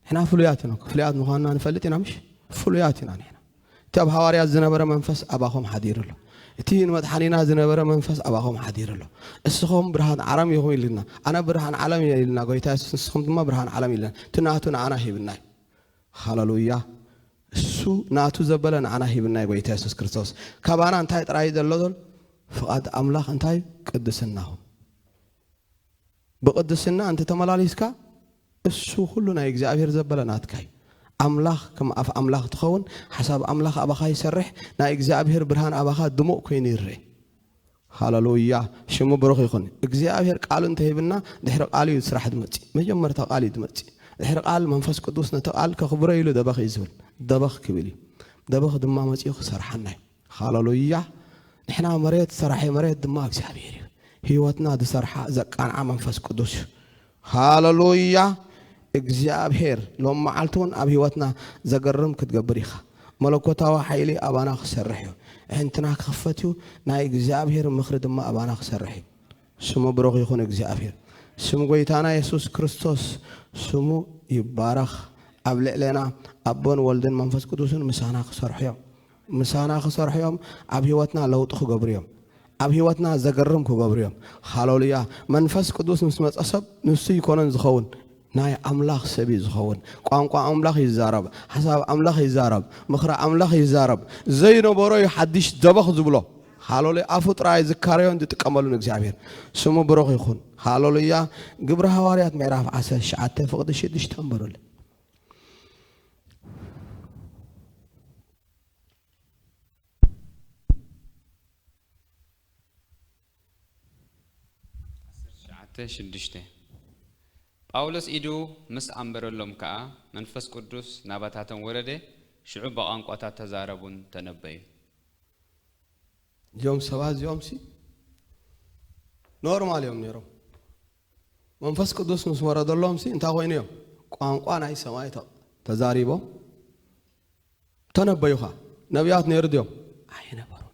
ንሕና ፍሉያት ኢና፣ ክፍሉያት ምዃንና ንፈልጥ ኢና ምሽ? ፍሉያት ኢና ንሕና። እቲ ኣብ ሃዋርያት ዝነበረ መንፈስ ኣባኹም ሓዲሩ ኣሎ። እቲ ንመድሓኒና ዝነበረ መንፈስ ኣባኹም ሓዲሩ ኣሎ። እስኹም ብርሃን ዓረም ኢኹም ኢሉና። ኣነ ብርሃን ዓለም እየ ኢሉና ጎይታ የሱስ፣ ንስኹም ድማ ብርሃን ዓለም ኢሉና። እቲ ናቱ ንኣና ሂብና እዩ። ሃለሉያ! እሱ ናቱ ዘበለ ንኣና ሂብና እዩ ጎይታ የሱስ ክርስቶስ። ካባና እንታይ ጥራይ እዩ ዘሎ? ፍቓድ ኣምላኽ እንታይ እዩ? ቅድስናኹም። ብቅድስና እንተ ተመላሊስካ እሱ ኩሉ ናይ እግዚኣብሔር ዘበለ ናትካ እዩ ኣምላኽ ከም ኣፍ ኣምላኽ ትኸውን ሓሳብ ኣምላኽ ኣባኻ ይሰርሕ ናይ እግዚኣብሔር ብርሃን ኣባኻ ድሙቅ ኮይኑ ይረእ ሃለሉያ ሽሙ ብሩኽ ይኹን እግዚኣብሔር ቃሉ እንተ ሂብና ድሕሪ ቃሉ እዩ ስራሕ ዝመጽእ መጀመርታ ቃል እዩ ዝመጽእ ድሕሪ ቃል መንፈስ ቅዱስ ነቲ ቃል ከኽብሮ ኢሉ ደበኽ እዩ ዝብል ደበኽ ክብል እዩ ደበኽ ድማ መጺኡ ክሰርሓና እዩ ሃለሉያ ንሕና መሬት ሰራሒ መሬት ድማ እግዚኣብሔር እዩ ህይወትና ዝሰርሓ ዘቃንዓ መንፈስ ቅዱስ እዩ ሃለሉያ እግዚኣብሔር ሎም መዓልቲ እውን ኣብ ህይወትና ዘገርም ክትገብር ኢኻ መለኮታዊ ሓይሊ ኣባና ክሰርሕ እዩ ሕንትና ክኽፈት እዩ ናይ እግዚኣብሔር ምኽሪ ድማ ኣባና ክሰርሕ እዩ ስሙ ብሩኽ ይኹን እግዚኣብሔር ስም ጎይታና የሱስ ክርስቶስ ስሙ ይባረኽ ኣብ ልዕሌና ኣቦን ወልድን መንፈስ ቅዱስን ምሳና ክሰርሑ እዮም ምሳና ክሰርሑ እዮም ኣብ ህይወትና ለውጢ ክገብሩ እዮም ኣብ ህይወትና ዘገርም ክገብሩ እዮም ሃለሉያ መንፈስ ቅዱስ ምስ መፀ ሰብ ንሱ ይኮነን ዝኸውን ናይ ኣምላኽ ሰብ እዩ ዝኸውን ቋንቋ ኣምላኽ ይዛረብ ሓሳብ ኣምላኽ ይዛረብ ምኽሪ ኣምላኽ ይዛረብ ዘይነበሮ እዩ ሓድሽ ደበኽ ዝብሎ ሃለሉያ ኣፉ ጥራይ ዝካረዮን ዝጥቀመሉን እግዚኣብሔር ስሙ ብሩኽ ይኹን ሃለሉያ ግብረ ሃዋርያት ምዕራፍ ዓሰርተ ትሽዓተ ፍቕዲ ሽዱሽተ ንበሩለይ ሽዱሽተ ጳውሎስ ኢዱ ምስ ኣንበረሎም ከኣ መንፈስ ቅዱስ ናባታቶም ወረደ፣ ሽዑ ብቛንቋታት ተዛረቡን ተነበዩ። እዚኦም ሰባት እዚኦምሲ ኖርማል እዮም ነይሮም። መንፈስ ቅዱስ ምስ ወረደሎምሲ እንታይ ኮይኑ እዮም ቋንቋ ናይ ሰማይ ተዛሪቦም ተነበዩኻ ነቢያት ነይሩ ድዮም ኣይነበሩን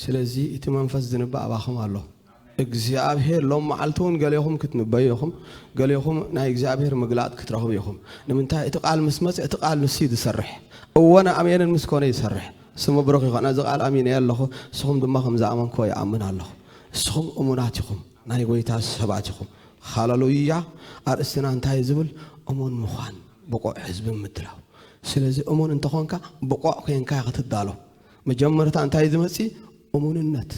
ስለዚ እቲ መንፈስ ዝንበ ኣባኹም ኣሎ እግዚኣብሄር ሎም መዓልቲ እውን ገሌኹም ክትንበዩ ኢኹም ገሌኹም ናይ እግዚኣብሄር ምግላጥ ክትረኽቡ ኢኹም ንምንታይ እቲ ቃል ምስ መፅ እቲ ቃል ንሱ እዩ ዝሰርሕ እወነ ኣሜንን ምስ ኮነ ይሰርሕ ስሙ ብሩኽ ይኾነ እዚ ቃል ኣሚነ ኣለኹ ንስኹም ድማ ከም ዝኣመንክዎ ይኣምን ኣለኹ ንስኹም እሙናት ኢኹም ናይ ጎይታ ሰባት ኢኹም። ሃላሉያ ኣርእስትና እንታይ እዩ ዝብል እሙን ምዃን ብቑዕ ህዝቢ ምድላው ስለዚ እሙን እንተኾንካ ብቑዕ ኮንካ ክትዳሎ መጀመርታ እንታይ ዝመጽ እሙንነት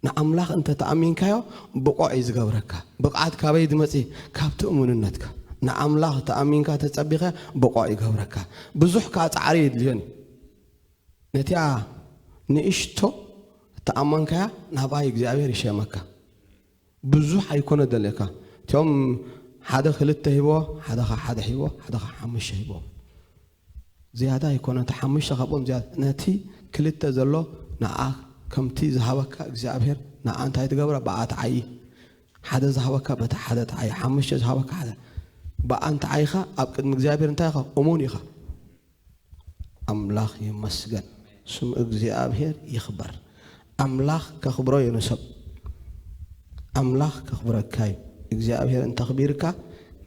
ንኣምላኽ እንተ ተኣሚንካዮ ብቑዕ እዩ ዝገብረካ ብቕዓት ካበይ ዝመጽ ካብቲ እሙንነትካ ንኣምላኽ ተኣሚንካ ተጸቢኸ ብቑዕ ይገብረካ ብዙሕ ከዓ ጻዕሪ የድልዮን እዩ ነቲኣ ንእሽቶ እተኣማንካያ ናብኣይ እግዚኣብሔር ይሸመካ ብዙሕ ኣይኮነ ደልየካ እቲኦም ሓደ ክልተ ሂቦ ሓደ ከ ሓደ ሂቦ ሓደ ከ ሓሙሽተ ሂቦ ዝያዳ ኣይኮነ እቲ ሓሙሽተ ካብኦም ዝያዳ ነቲ ክልተ ዘሎ ንኣ ከምቲ ዝሃበካ እግዚኣብሔር ንኣ እንታይ ትገብራ ብኣ ትዓይ ሓደ ዝሃበካ በቲ ሓደ ትዓይ ሓሙሽተ ዝሃበካ ሓደ ብኣ እንተዓይኻ ኣብ ቅድሚ እግዚኣብሔር እንታይ ኢኻ እሙን ኢኻ ኣምላኽ ይመስገን ስም እግዚኣብሔር ይኽበር ኣምላኽ ከኽብሮ ዩ ንሰብ ኣምላኽ ከኽብረካ ዩ እግዚኣብሔር እንተኽቢርካ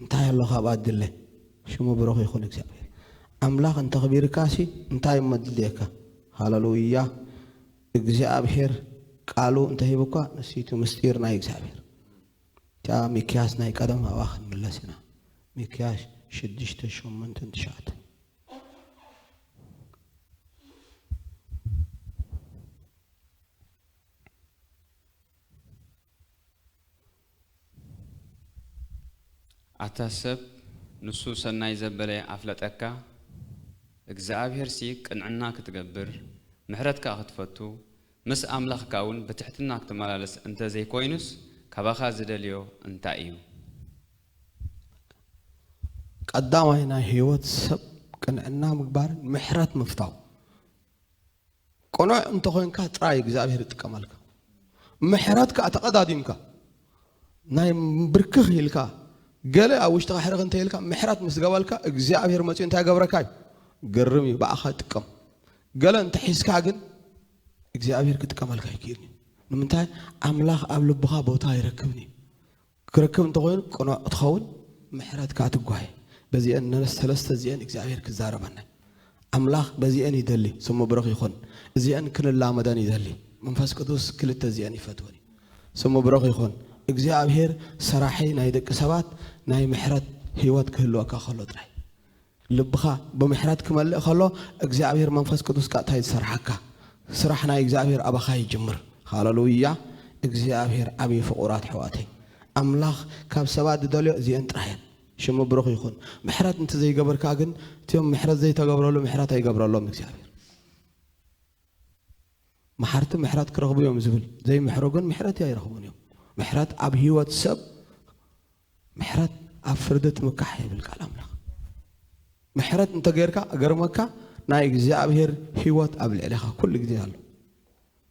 እንታይ ኣሎ ካብኣ ድለ ሽሙ ብሩኽ ይኹን እግዚኣብሔር ኣምላኽ እንተኽቢርካ ሲ እንታይ እሞ ድልየካ ሃለሉያ እግዚኣብሔር ቃሉ እንተሂብኳ ንሲቱ ምስጢር ናይ እግዚኣብሔር እታ ሚክያስ ናይ ቀደም ኣብኣ ክንምለስ ኢና ሚክያስ ሽዱሽተ ሸሞንተን ትሽዓተን። ኣታ ሰብ ንሱ ሰናይ ዘበለ ኣፍለጠካ እግዝኣብሄርሲ ቅንዕና ክትገብር ምሕረት ከኣ ክትፈቱ ምስ ኣምላኽካ እውን ብትሕትና ክትመላለስ እንተ ዘይኰይኑስ ካባኻ ዚደልዮ እንታይ እዩ? ቀዳማይ ናይ ሕይወት ሰብ ቅንዕና ምግባርን ምሕረት ምፍታው። ቅኑዕ እንተ ዄንካ ጥራይ እግዚኣብሔር ይጥቀመልካ። ምሕረት ከኣ ተቐዳዲምካ። ናይ ብርክኽ ኢልካ ገለ ኣብ ውሽጥኻ ሕርኽ እንተ ኢልካ ምሕረት ምስ ገበልካ እግዚኣብሔር መጺኡ እንታይ ገብረካ እዩ ግርም እዩ ብኣኻ ይጥቀም ገለ እንተ ሒዝካ ግን እግዚኣብሔር ክጥቀመልካ ይክእል እዩ ንምንታይ ኣምላኽ ኣብ ልብኻ ቦታ ይረክብን እዩ ክረክብ እንተኾይኑ ቅኑዕ ክትኸውን ምሕረትካ ትጓየ በዚአን ሰለስተ እዚአን እግዚኣብሔር ክዛረበና ኣምላኽ በዚኤን ይደሊ ስሙ ብሩኽ ይኹን እዚኤን ክንላመደን ይደሊ መንፈስ ቅዱስ ክልተ እዚኤን ይፈትወን እዩ ስሙ ብሩኽ ይኹን እግዚኣብሄር ሰራሒ ናይ ደቂ ሰባት ናይ ምሕረት ህይወት ክህልወካ ከሎ ጥራይ ልብኻ ብምሕረት ክመልእ ከሎ እግዚኣብሄር መንፈስ ቅዱስ ቀጥታ ዝሰርሓካ ስራሕ ናይ እግዚኣብሄር ኣባኻ ይጅምር ሃለሉያ እግዚኣብሄር ዓብዪ ፍቑራት ኣሕዋተይ ኣምላኽ ካብ ሰባት ዝደልዮ እዚኤን ጥራየን ሽሙ ብሩኽ ይኹን። ምሕረት እንተ ዘይገብርካ ግን እቲኦም ምሕረት ዘይተገብረሉ ምሕረት ኣይገብረሎም እግዚኣብሔር። መሓርቲ ምሕረት ክረኽቡ እዮም ዝብል ዘይምሕሩ ግን ምሕረት ኣይረኽቡን እዮም። ምሕረት ኣብ ህይወት ሰብ ምሕረት ኣብ ፍርዲ ትምካሕ ይብል ቃል ኣምላኽ። ምሕረት እንተ ጌርካ ገርመካ ናይ እግዚኣብሔር ህይወት ኣብ ልዕሌኻ ኩሉ ግዜ ኣሎ።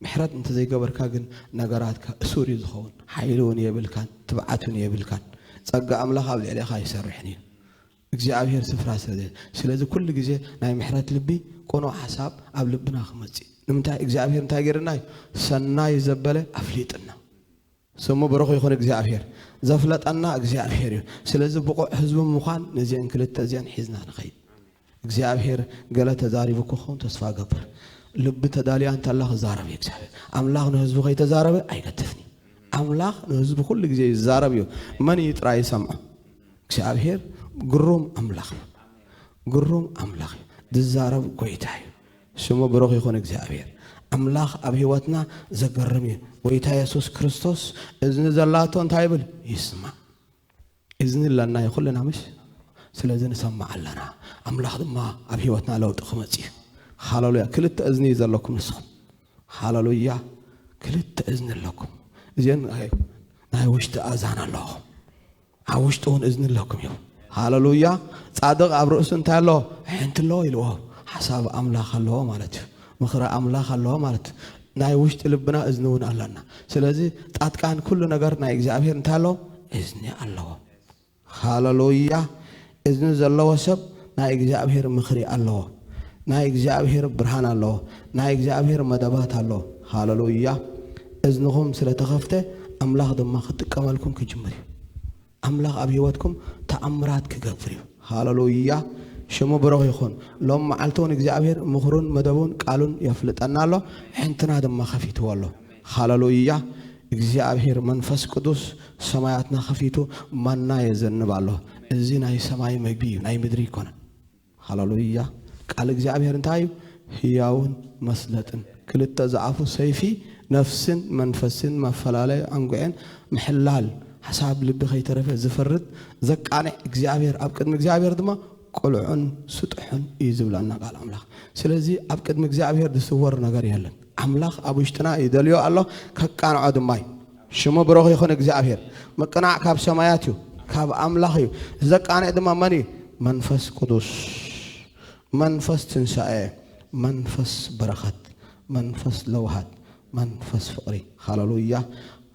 ምሕረት እንተዘይገበርካ ግን ነገራትካ እሱር እዩ ዝኸውን፣ ሓይሊ እውን የብልካን ትብዓት እውን የብልካን፣ ጸጋ ኣምላኽ ኣብ ልዕሌኻ ኣይሰርሕን እዩ፣ እግዚኣብሄር ስፍራ ስለ ዘይ። ስለዚ ኩሉ ግዜ ናይ ምሕረት ልቢ ቅኑዕ ሓሳብ ኣብ ልብና ክመጽእ እዩ፣ ንምንታይ እግዚኣብሄር እንታይ ገይርና እዩ ሰናይ ዘበለ ኣፍሊጥና። ስሙ ብሩኽ ይኹን እግዚኣብሄር። ዘፍለጠና እግዚኣብሄር እዩ። ስለዚ ብቑዕ ህዝቡ ምዃን ነዚኤን ክልተ እዚኤን ሒዝና ንኸይድ። እግዚኣብሄር ገለ ተዛሪቡ ክኸውን ተስፋ እገብር። ልቢ ተዳልያ እንተላ ክዛረብ እዩ እግዚኣብሄር። ኣምላኽ ንህዝቡ ከይተዛረበ ኣይገድፍን እዩ። ኣምላኽ ንህዝቡ ኩሉ ግዜ ይዛረብ እዩ። መን እዩ ጥራይ ይሰምዖ? እግዚኣብሄር ግሩም ኣምላኽ እዩ። ግሩም ኣምላኽ እዩ። ዝዛረብ ጎይታ እዩ። ስሙ ብሩኽ ይኹን እግዚኣብሔር ኣምላኽ ኣብ ህይወትና ዘገርም እዩ ጎይታ የሱስ ክርስቶስ እዝኒ ዘላቶ እንታይ ይብል ይስማዕ እዝኒ ኣለና እዩ ኩልና ምሽ ስለዚ ንሰማዕ ኣለና ኣምላኽ ድማ ኣብ ህይወትና ለውጢ ክመፅ እዩ ሃለሉያ ክልተ እዝኒ እዩ ዘለኩም ንስኹም ሃለሉያ ክልተ እዝኒ ኣለኩም እዚን ናይ ውሽጢ ኣዛን ኣለኹም ኣብ ውሽጡ እውን እዝኒ ኣለኩም እዩ ሃለሉያ ጻድቕ ኣብ ርእሱ እንታይ ኣሎ ሕንቲ ኣለዎ ኢልዎ ሓሳብ ኣምላኽ ኣለዎ ማለት እዩ ምኽሪ ኣምላኽ ኣለዎ ማለት እዩ ናይ ውሽጢ ልብና እዝኒ እውን ኣለና ስለዚ ጣጥቃን ኩሉ ነገር ናይ እግዚኣብሄር እንታይ ኣለዎ እዝኒ ኣለዎ ሃለሉያ እዝኒ ዘለዎ ሰብ ናይ እግዚኣብሄር ምኽሪ ኣለዎ ናይ እግዚኣብሄር ብርሃን ኣለዎ ናይ እግዚኣብሄር መደባት ኣለዎ ሃለሉያ እዝንኹም ስለ ተኸፍተ ኣምላኽ ድማ ክጥቀመልኩም ክጅምር እዩ ኣምላኽ ኣብ ህይወትኩም ተኣምራት ክገብር እዩ ሃለሉያ ሽሙ ብሩኽ ይኹን ሎም መዓልቲ እውን እግዚኣብሄር ምኽሩን መደቡን ቃሉን የፍልጠና ኣሎ ሕንትና ድማ ከፊትዎ ኣሎ ሃለሉያ እግዚኣብሔር መንፈስ ቅዱስ ሰማያትና ከፊቱ ማና የዘንብ ኣሎ እዚ ናይ ሰማይ መግቢ እዩ ናይ ምድሪ ኣይኮነን ሃለሉያ ቃል እግዚኣብሔር እንታይ እዩ ህያውን መስለጥን ክልተ ዝኣፉ ሰይፊ ነፍስን መንፈስን መፈላለዩ ኣንጉዔን ምሕላል ሓሳብ ልቢ ከይተረፈ ዝፈርድ ዘቃንዕ እግዚኣብሔር ኣብ ቅድሚ እግዚኣብሔር ድማ ቅልዑን ስጥሑን እዩ ዝብለና ቃል ኣምላኽ። ስለዚ ኣብ ቅድሚ እግዚኣብሄር ዝስወር ነገር የለን። ኣምላኽ ኣብ ውሽጥና ይደልዮ ኣሎ፣ ከቃንዖ ድማ እዩ። ሽሙ ብሩኽ ይኹን እግዚኣብሄር። ምቅናዕ ካብ ሰማያት እዩ፣ ካብ ኣምላኽ እዩ። እዚ ዘቃንዕ ድማ መን እዩ? መንፈስ ቅዱስ። መንፈስ ትንሳኤ፣ መንፈስ በረኸት፣ መንፈስ ለውሃት፣ መንፈስ ፍቅሪ ሃለሉያ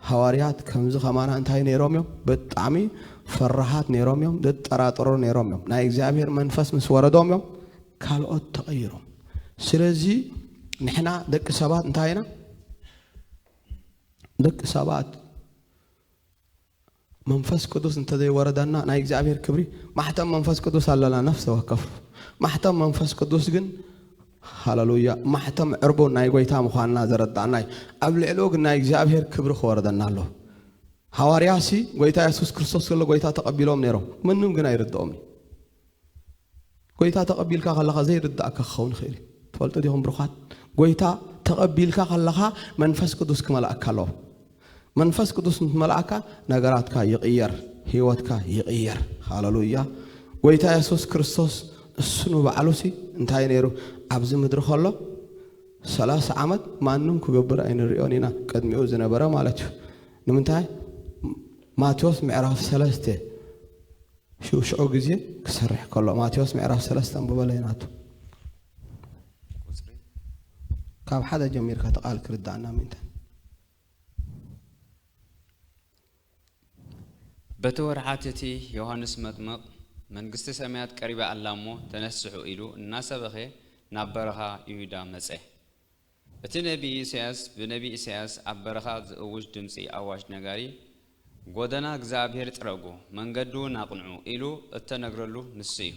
ሃዋርያት ከምዚ ከማና እንታይ ነይሮም እዮም ብጣዕሚ ፈራሃት ነይሮም እዮም ዝጠራጠሩ ነይሮም እዮም ናይ እግዚኣብሔር መንፈስ ምስ ወረዶም እዮም ካልኦት ተቐይሮም ስለዚ ንሕና ደቂ ሰባት እንታይ ኢና ደቂ ሰባት መንፈስ ቅዱስ እንተዘይወረደና ናይ እግዚኣብሔር ክብሪ ማሕተም መንፈስ ቅዱስ ኣለና ነፍሰ ወከፍ ማሕተም መንፈስ ቅዱስ ግን ሃለሉያ ማሕተም ዕርቡን ናይ ጎይታ ምዃንና ዘረዳእና እዩ ኣብ ልዕሊኡ ግን ናይ እግዚኣብሔር ክብሪ ክወረደና ኣሎ ሃዋርያሲ ጎይታ የሱስ ክርስቶስ ከሎ ጎይታ ተቐቢሎም ነይሮም ምንም ግን ኣይርድኦም እዩ ጎይታ ተቐቢልካ ከለኻ ዘይርድኣካ ክኸውን ይኽእል እዩ። ትፈልጡ ዲኹም ብሩኻት? ጎይታ ተቐቢልካ ከለኻ መንፈስ ቅዱስ ክመልኣካ ኣለዎ። መንፈስ ቅዱስ ምስ መልኣካ ነገራትካ ይቕየር፣ ህይወትካ ይቕየር። ሃለሉያ! ጎይታ የሱስ ክርስቶስ እሱ ንባዕሉሲ እንታይ ነይሩ? ኣብዚ ምድሪ ከሎ ሰላሳ ዓመት ማንም ክገብር ኣይንሪኦን ኢና፣ ቅድሚኡ ዝነበረ ማለት እዩ። ንምንታይ? ማቴዎስ ምዕራፍ ሰለስተ ሽዑ ሽዑ ግዜ ክሰርሕ ከሎ ማቴዎስ ምዕራፍ ሰለስተ ኣንብበለይ ናቱ ቁጽሪ ካብ ሓደ ጀሚርካ ተቃል ክርዳእና ምእንታን በቲ ወርሓት እቲ ዮሃንስ መጥምቕ መንግስቲ ሰማያት ቀሪባ ኣላ እሞ ተነስሑ ኢሉ እናሰበኸ ናብ በረኻ ይሁዳ መጸ። እቲ ነቢይ ኢሳያስ ብነቢይ ኢሳያስ ኣብ በረኻ ዝእውጅ ድምጺ ኣዋጅ ነጋሪ፣ ጐደና እግዚኣብሔር ጽረጉ፣ መንገዲውን ኣቕንዑ ኢሉ እተነግረሉ ንሱ እዩ።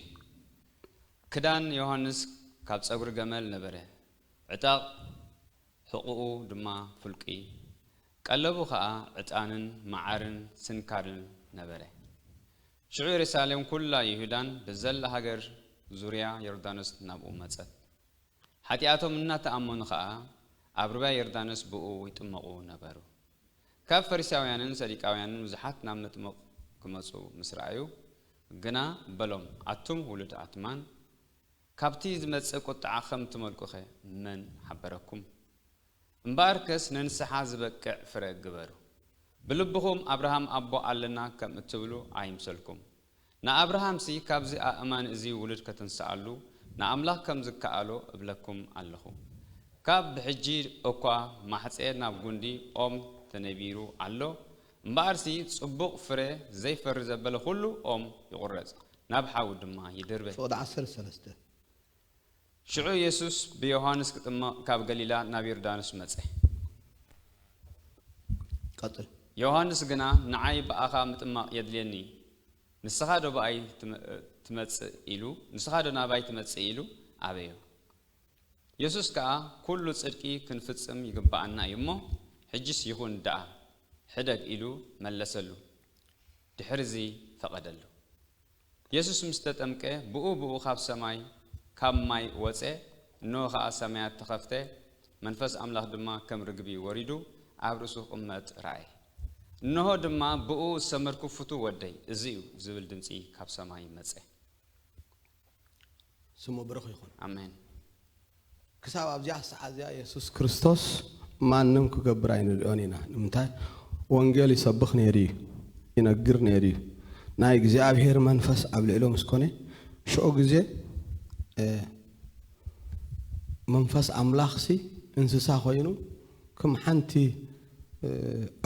ክዳን ዮሃንስ ካብ ጸጕሪ ገመል ነበረ፣ ዕጣቕ ሕቝኡ ድማ ፍልቍይ፣ ቀለቡ ኸኣ ዕጣንን መዓርን ስንካርን ነበረ። ሽዑ የሩሳሌም ኵላ ይሁዳን ብዘላ ሃገር ዙርያ ዮርዳኖስ ናብኡ መጸት። ሓጢኣቶም እናተኣመኑ ኸኣ ኣብ ርባ ዮርዳኖስ ብእኡ ይጥመቑ ነበሩ። ካብ ፈሪሳውያንን ሰዲቃውያንን ብዙሓት ናብ መጥምቕ ክመጹ ምስ ረኣዩ ግና በሎም ኣቱም ውሉድ ኣትማን ካብቲ ዝመጽእ ቁጥዓ ኸም ትመልቁኸ መን ሓበረኩም? እምበኣርከስ ንንስሓ ዝበቅዕ ፍረ ግበሩ። ብልብኹም ኣብርሃም ኣቦ ኣለና ከም እትብሉ ኣይምሰልኩም። ንኣብርሃምሲ ካብዚ ኣእማን እዚ ውሉድ ከትንስኣሉ ንኣምላኽ ከም ዝከኣሎ እብለኩም ኣለኹ። ካብ ብሕጂ እኳ ማሕጸ ናብ ጉንዲ ኦም ተነቢሩ ኣሎ፣ እምበኣርሲ ጽቡቕ ፍረ ዘይፈሪ ዘበለ ዅሉ ኦም ይቝረጽ፣ ናብ ሓዊ ድማ ይድርበ። ፍቕዲ ዓሰርተ ሰለስተ ሽዑ የሱስ ብዮሃንስ ክጥመቕ ካብ ገሊላ ናብ ዮርዳኖስ መጸ። ቀጥል። ዮሃንስ ግና ንዓይ ብኣኻ ምጥማቕ የድልየኒ፣ ንስኻዶ ብኣይ ትመጽእ ኢሉ ንስኻዶ ናባይ ትመጽእ ኢሉ ኣበዮ። የሱስ ከኣ ኩሉ ጽድቂ ክንፍጽም ይግብኣና እዩ እሞ ሕጂስ ይኹን ደኣ ሕደግ ኢሉ መለሰሉ። ድሕርዚ ፈቐደሉ። የሱስ ምስ ተጠምቀ ብኡ ብኡ ኻብ ሰማይ ካብ ማይ ወጸ፣ እንሆ ኸኣ ሰማያት ተኸፍተ፣ መንፈስ ኣምላኽ ድማ ከም ርግቢ ወሪዱ ኣብ ርእሱ ክቕመጥ ረኣየ። እንሆ ድማ ብእኡ ዝሰመርኩ ፍቱው ወደይ እዚ እዩ ዝብል ድምጺ ካብ ሰማይ መጸ። ስሙ ብሩኽ ይኹን። ኣሜን። ክሳብ ኣብዚኣ ሰዓት እዚኣ የሱስ ክርስቶስ ማንም ክገብር ኣይንርእዮን ኢና። ንምንታይ? ወንጌል ይሰብኽ ነይሩ እዩ፣ ይነግር ነይሩ እዩ። ናይ እግዚኣብሔር መንፈስ ኣብ ልዕሉ ምስ ኮነ ሽዑ ግዜ መንፈስ ኣምላኽሲ እንስሳ ኮይኑ ክም ሓንቲ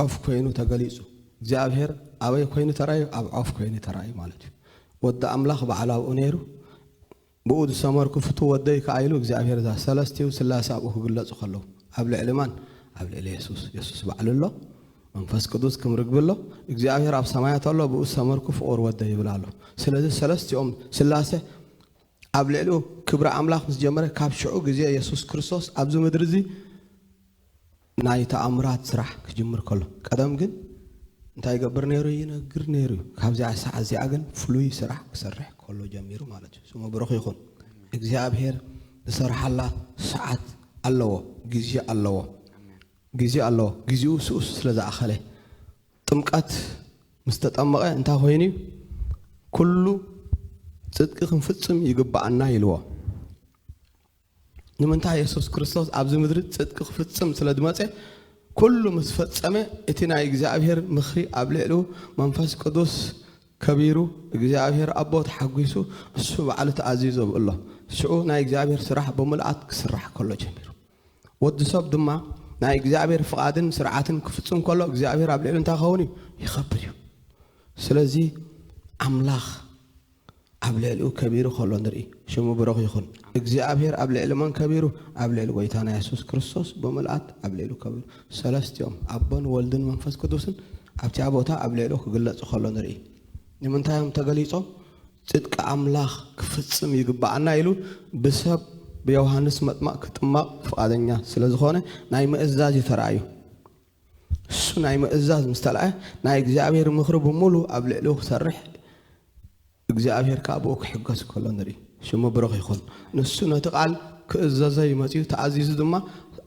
ዖፍ ኮይኑ ተገሊጹ። እግዚኣብሔር ኣበይ ኮይኑ ተራእዩ? ኣብ ዖፍ ኮይኑ ተራእዩ ማለት እዩ። ወዲ ኣምላኽ በዓል ኣብኡ ነይሩ ብኡ ዝሰመርኩ ፍቱው ወደይ ከኣ ኢሉ እግዚኣብሔር እዛ ሰለስቲው ስላሴ ኣብኡ ክግለጹ ከለዉ ኣብ ልዕሊ መን ኣብ ልዕሊ የሱስ የሱስ ባዕሉ ኣሎ መንፈስ ቅዱስ ክም ርግቢ ኣሎ እግዚኣብሔር ኣብ ሰማያት ኣሎ ብኡ ዝሰመርኩ ፍቑር ወደይ ይብል ኣሎ ስለዚ ሰለስቲኦም ስላሴ ኣብ ልዕሊኡ ክብሪ ኣምላኽ ምስ ጀመረ ካብ ሽዑ ግዜ የሱስ ክርስቶስ ኣብዚ ምድሪ እዚ ናይ ተኣምራት ስራሕ ክጅምር ከሎ። ቀደም ግን እንታይ ይገብር ነይሩ ይነግር ነይሩ እዩ። ካብዚኣ ሰዓት እዚኣ ግን ፍሉይ ስራሕ ክሰርሕ ከሎ ጀሚሩ ማለት እዩ። ስሙ ብሩኽ ይኹን። እግዚኣብሄር ዝሰርሓላ ሰዓት ኣለዎ፣ ግዜ ኣለዎ፣ ግዜ ኣለዎ። ግዜኡ ስኡስ ስለ ዝኣኸለ ጥምቀት ምስ ተጠመቐ እንታይ ኮይኑ እዩ? ኩሉ ጽድቂ ክንፍጽም ይግባኣና ኢልዎ። ንምንታይ የሱስ ክርስቶስ ኣብዚ ምድሪ ጽድቂ ክፍጽም ስለ ዝመጸ ኩሉ ምስ ፈጸመ እቲ ናይ እግዚኣብሔር ምኽሪ ኣብ ልዕሉ መንፈስ ቅዱስ ከቢሩ እግዚኣብሔር ኣቦ ተሓጒሱ እሱ ባዕሉ ተኣዚዞ ኣሎ ሽኡ ናይ እግዚኣብሔር ስራሕ ብምልኣት ክስራሕ ከሎ ጀሚሩ ወዲ ሰብ ድማ ናይ እግዚኣብሔር ፍቓድን ስርዓትን ክፍጽም ከሎ እግዚኣብሔር ኣብ ልዕሉ እንታይ ኸውን እዩ ይኸብር እዩ ስለዚ ኣምላኽ ኣብ ልዕሊኡ ከቢሩ ከሎ ንርኢ። ሽሙ ብሩኽ ይኹን። እግዚኣብሔር ኣብ ልዕሊ መን ከቢሩ? ኣብ ልዕሊ ጐይታና የሱስ ክርስቶስ ብምልኣት ኣብ ልዕሉ ከቢሩ። ሰለስቲኦም፣ ኣቦን ወልድን መንፈስ ቅዱስን፣ ኣብቲኣ ቦታ ኣብ ልዕሉ ክግለጹ ከሎ ንርኢ። ንምንታይ እዮም ተገሊጾም? ጽድቂ ኣምላኽ ክፍጽም ይግብኣና ኢሉ ብሰብ ብዮሃንስ መጥማቕ ክጥመቕ ፍቓደኛ ስለ ዝኾነ ናይ ምእዛዝ እዩ ተራእዩ። እሱ ናይ ምእዛዝ ምስ ተላእየ ናይ እግዚኣብሔር ምኽሪ ብምሉ ኣብ ልዕሊኡ ክሰርሕ እግዚኣብሔር ከዓ ብኡ ክሕገዝ ከሎ ንርኢ ሽሙ ብሩኽ ይኹን ንሱ ነቲ ቃል ክእዘዘ እዩ መፅዩ ተኣዚዙ ድማ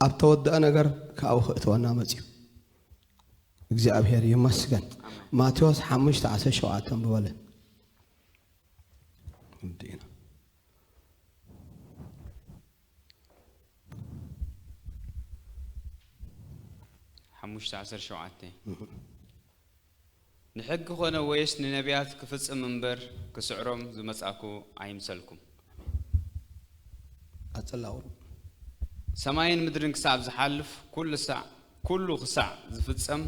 ኣብ ተወደአ ነገር ካብኡ ክእተወና መፅዩ እግዚኣብሔር ይመስገን ማቴዎስ ሓሙሽተ ዓሰርተ ሸውዓተ ንብበለ ሓሙሽተ ዓሰርተ ሸውዓተ ንሕጊ ኮነ ወይስ ንነብያት ክፍጽም እምበር ክስዕሮም ዝመጻእኩ ኣይምሰልኩም። ቀጽላ ቁሩብ። ሰማይን ምድርን ክሳብ ዝሓልፍ ኩሉ ሳዕ ኩሉ ክሳዕ ዝፍጸም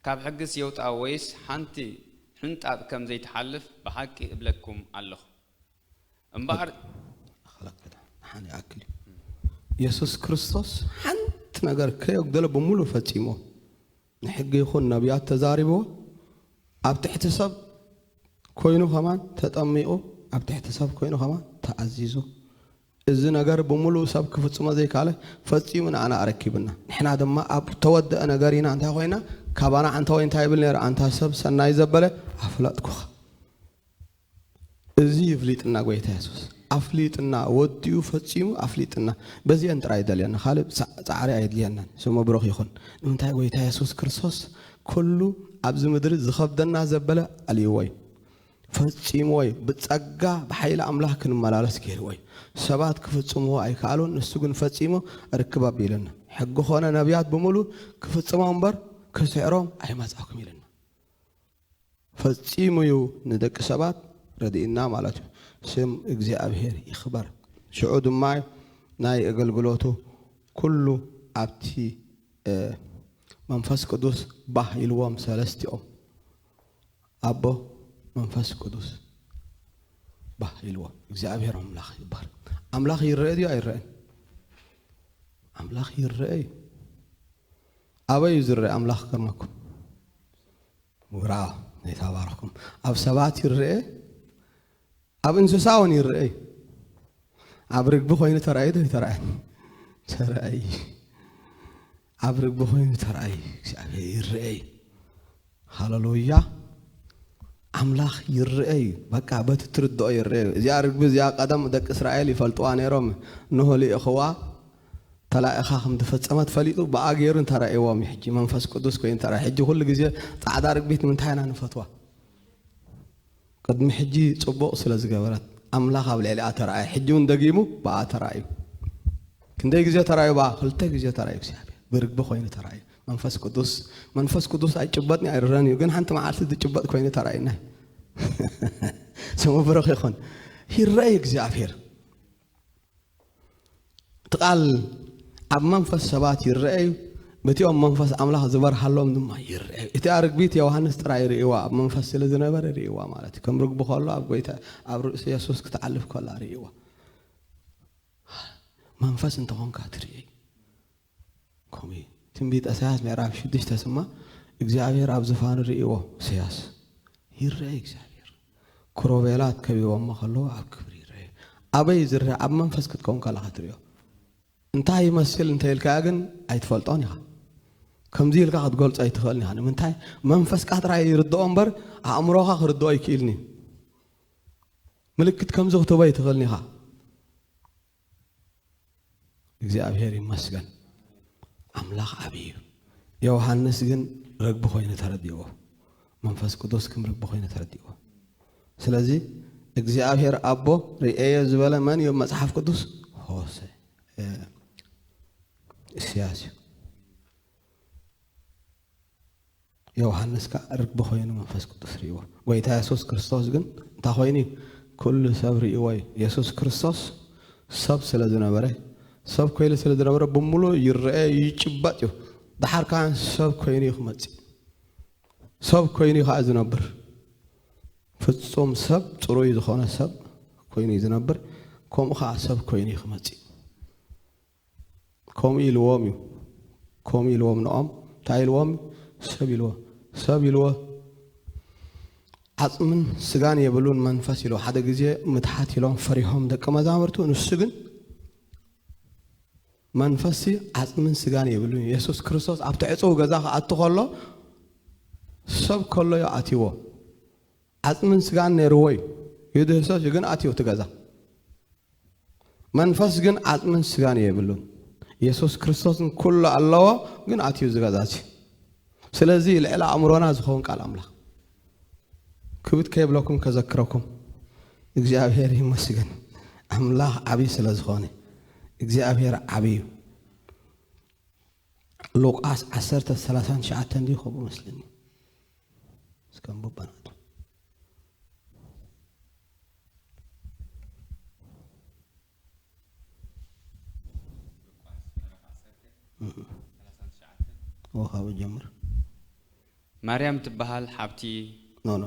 ካብ ሕግስ የውጣ ወይስ ሓንቲ ሕንጣጥ ከም ዘይትሓልፍ ብሓቂ እብለኩም ኣለኹ። እምበኣር ሓን ይኣክል እዩ የሱስ ክርስቶስ ሓንቲ ነገር ከየጎደለ ብምሉእ ፈጺሞ ንሕጊ ይኹን ነቢያት ተዛሪብዎ ኣብ ትሕቲ ሰብ ኮይኑ ከማን ተጠሚቑ ኣብ ትሕቲ ሰብ ኮይኑ ከማን ተኣዚዙ እዚ ነገር ብምሉእ ሰብ ክፍጽሞ ዘይካለ ፈጺሙ ንኣና ኣረኪብና ንሕና ድማ ኣብ ተወደአ ነገር ኢና እንታይ ኮይና ካባና ኣንታ ወይ እንታይ ይብል ነይሩ ኣንታ ሰብ ሰናይ ዘበለ ኣፍለጥኩኻ እዚ ይፍሊጥና ጎይታ የሱስ ኣፍሊጥና ወዲኡ ፈጺሙ ኣፍሊጥና በዚኤን ጥራይ ይደልየና ካልእ ጻዕሪ ኣየድልየናን ስሙ ብሩኽ ይኹን ንምንታይ ጎይታ የሱስ ክርስቶስ ኩሉ ኣብዚ ምድሪ ዝኸብደና ዘበለ ኣልይዎ እዩ ፈጺምዎ እዩ ብጸጋ ብሓይሊ ኣምላኽ ክንመላለስ ገይርዎ እዩ ሰባት ክፍጽምዎ ኣይከኣሉን ንሱ ግን ፈጺሙ ርክብ ኣቢሉና ሕጊ ኮነ ነብያት ብምሉ ክፍጽሞም እምበር ክስዕሮም ኣይመጻኩም ኢልና ፈጺሙ እዩ ንደቂ ሰባት ረዲእና ማለት እዩ። ስም እግዚኣብሔር ይክበር ሽዑ ድማ ናይ እገልግሎቱ ኩሉ ኣብቲ መንፈስ ቅዱስ ባህ ኢልዎም ሰለስቲኦም ኣቦ መንፈስ ቅዱስ ባህ ኢልዎም እግዚኣብሔር ኣምላኽ ይባል ኣምላኽ ይረአ ድዩ ኣይረአን ኣምላኽ ይረአ እዩ። ኣበዩ ዝረኣ ኣምላኽ ከማኩም ውራ ይታባርኩም ኣብ ሰባት ይረኤ ኣብ እንስሳ ውን ይረኤ እዩ ኣብ ርግቢ ኮይኑ ተራእዩ ዶ ይተራእዩ ተራእዩ ኣብ ርግቢ ኮይኑ ተራእዩ እግዚኣብሔር ይረኤ እዩ ሃለሉያ ኣምላኽ ይርኤ እዩ በቃ በቲ ትርድኦ ይርኤ እዩ እዚኣ ርግቢ እዚኣ ቀደም ደቂ እስራኤል ይፈልጥዋ ነይሮም እንሆ ልኢኽዋ ተላኢኻ ከም ዝፈጸመት ፈሊጡ ብኣ ገይሩ እንተራእዎም እዩ ሕጂ መንፈስ ቅዱስ ኮይኑ ተራእ ሕጂ ኩሉ ግዜ ጻዕዳ ርግቢት ንምንታይ ኢና ንፈትዋ ቅድሚ ሕጂ ጽቡቕ ስለ ዝገበረት ኣምላኽ ኣብ ልዕሊኣ ተራእየ ሕጂ ውን ደጊሙ ብኣ ተራእዩ። ክንደይ ግዜ ተራእዩ ብኣ? ክልተ ግዜ ተራእዩ እግዚኣብሄር ብርግቢ ኮይኑ ተራእዩ። መንፈስ ቅዱስ መንፈስ ቅዱስ ኣይጭበጥን ኣይርረን እዩ ግን ሓንቲ መዓልቲ ዝጭበጥ ኮይኑ ተራእዩና ስሙ ብሩኽ ይኹን። ይረኣይ እግዚኣብሄር እቲ ቃል ኣብ መንፈስ ሰባት ይረአ እዩ፣ በቲኦም መንፈስ ኣምላኽ ዝበርሃሎም ድማ ይረአ እዩ። እቲኣ ርግቢት ዮውሃንስ ጥራይ ርእይዋ፣ ኣብ መንፈስ ስለ ዝነበረ ርእይዋ ማለት እዩ። ከም ርግቢ ከሎ ኣብ ጎይታ ኣብ ርእሲ የሱስ ክትዓልፍ ከላ ርእይዋ። መንፈስ እንተኾንካ ትርእይ። ከምኡ እዩ ትንቢት እሳያስ ምዕራፍ ሽዱሽተ ስማ እግዚኣብሔር ኣብ ዝፋኑ ርእዎ እሰያስ ይረኤ እግዚኣብሔር ክሮቤላት ከቢቦሞ ከለዉ ኣብ ክብሪ ይረኤ ኣበይ ዝረኣ ኣብ መንፈስ ክትከውን ከለካ ትሪኦ እንታይ ይመስል እንተ ኢልካያ ግን ኣይትፈልጦን ኢኻ ከምዚ ኢልካ ክትገልጾ ኣይትኽእልን ኢኻ ንምንታይ መንፈስካ ጥራይ ይርድኦ እምበር ኣእምሮኻ ክርድኦ ኣይክእልን እዩ ምልክት ከምዚ ክትህቦ ኣይትኽእልን ኢኻ እግዚኣብሔር ይመስገን ኣምላኽ ዓብ እዩ ዮውሃንስ ግን ረግቢ ኮይኑ ተረዲእዎ መንፈስ ቅዱስ ክም ረግቢ ኮይኑ ተረዲእዎ ስለዚ እግዚኣብሔር ኣቦ ርእዮ ዝበለ መን እዮ መፅሓፍ ቅዱስ ሆሰ እስያስ እዩ ዮውሃንስ ከኣ ርግቢ ኮይኑ መንፈስ ቅዱስ ርእይዎ። ጎይታ የሱስ ክርስቶስ ግን እንታይ ኮይኑ እዩ? ኩሉ ሰብ ርእይዎ እዩ። የሱስ ክርስቶስ ሰብ ስለ ዝነበረ፣ ሰብ ኮይኑ ስለ ዝነበረ ብምሉእ ይረኤ እዩ፣ ይጭበጥ እዩ። ደሓር ከኣ ሰብ ኮይኑ እዩ ክመጽእ። ሰብ ኮይኑ እዩ ከኣ ዝነብር። ፍጹም ሰብ ጽሩይ ዝኾነ ሰብ ኮይኑ እዩ ዝነብር፣ ከምኡ ከኣ ሰብ ኮይኑ እዩ ክመጽእ። ከምኡ ኢልዎም እዩ ከምኡ ኢልዎም ንኦም እንታይ ኢልዎም ሰብ ኢልዎ ሰብ ኢልዎ ዓጽምን ስጋን የብሉን መንፈስ ኢልዎ ሓደ ግዜ ምትሓት ኢሎም ፈሪሆም ደቂ መዛሙርቱ ንሱ ግን መንፈስ ዓጽምን ስጋን የብሉን የሱስ ክርስቶስ ኣብቲ ዕጽው ገዛ ክኣቱ ከሎ ሰብ ከሎ ዩ ኣትዎ ዓጽምን ስጋን ነይርዎ እዩ ይድህሰስ እዩ ግን ኣትዮ እቲ ገዛ መንፈስ ግን ዓጽምን ስጋን የብሉን የሱስ ክርስቶስን ኩሉ ኣለዎ ግን ኣትዩ እዚ ገዛ እዚ ስለዚ ልዕሊ ኣእምሮና ዝኸውን ቃል ኣምላኽ ክብት ከይብለኩም ከዘክረኩም እግዚኣብሔር ይመስገን ኣምላኽ ዓብዪ ስለ ዝኾነ እግዚኣብሔር ዓብዪ እዩ ሉቃስ ዓሰርተ ሰላሳን ትሽዓተን ድዩ ከምኡ መስለኒ እስከ ንቡባናቱ ወኻብ ጀምር ማርያም ትበሃል ሓብቲ ኖ ኖ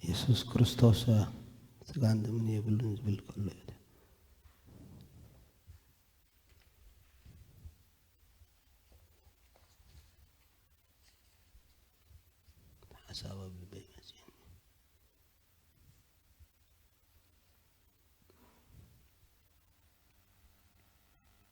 የሱስ ክርስቶስ ስጋን ደምን የብሉን ዝብል ከሎ እዩ ሓሳብ ኣብ ልበይ መፅእኒ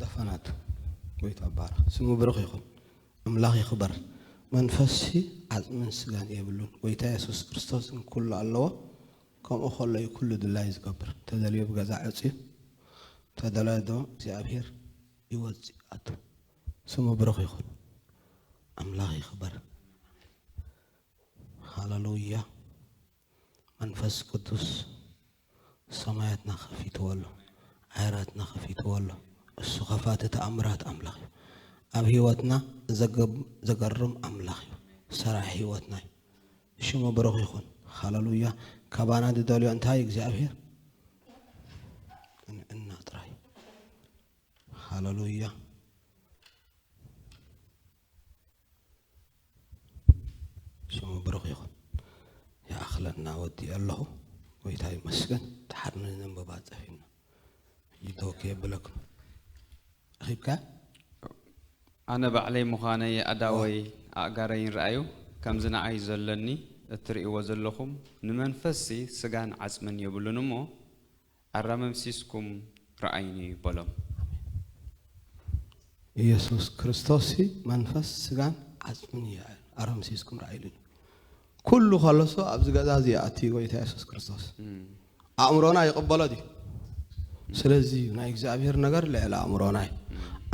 ዳፋናት ወይ ኣባራ ስሙ ብሩኽ ይኹን ኣምላኽ ይኽበር መንፈስሲ ዓፅምን ስጋን የብሉን ጎይታ የሱስ ክርስቶስን ኩሉ ኣለዎ ከምኡ ከሎ እዩ ኩሉ ድላዩ ዝገብር እንተደልዩ ኣብ ገዛ ዕፅዩ እንተደላዩ ድማ እግዚኣብሔር ይወፅእ ይኣቱ ስሙ ብሩክ ይኩን ኣምላክ ይክበር ሃለሉያ መንፈስ ቅዱስ ሰማያትና ከፊትዎ ኣሎ ዓይራትና ከፊትዎ ኣሎ እሱ ከፋቲ ተኣምራት ኣምላክ እዩ ኣብ ህይወትና ዘገርም ኣምላክ እዩ ሰራሕ ህይወትና እዩ ሽሙ ብሩኽ ይኹን ሃለሉያ ካባና ዝደልዮ እንታይ እግዚኣብሔር እና ጥራይ ሃለሉያ ሽሙ ብሩኽ ይኹን ይኣኽለና ወዲኦ ኣለኹ ጎይታ ይመስገን ተሓድነ ዘንበባ ፀፊና ይቶ ከየብለኩ ኺብካ ኣነ ባዕለይ ምዃነይ ኣእዳወይ ኣእጋረይን ርኣዩ ከምዚ ንዓይ ዘሎኒ እትርእይዎ ዘሎኹም ንመንፈስሲ ስጋን ዓጽምን የብሉን እሞ ኣራመምሲስኩም ርኣዩኒ በሎም። ኢየሱስ ክርስቶስሲ መንፈስ ስጋን ዓጽምን እዩ ኣራምሲስኩም ርኣዩኒ ኩሉ ከሎሶ ኣብዚ ገዛ እዚ ይኣቲ ጎይታ የሱስ ክርስቶስ ኣእምሮና ይቅበሎ ድዩ ስለዚ እዩ ናይ እግዚኣብሔር ነገር ልዕሊ ኣእምሮና እዩ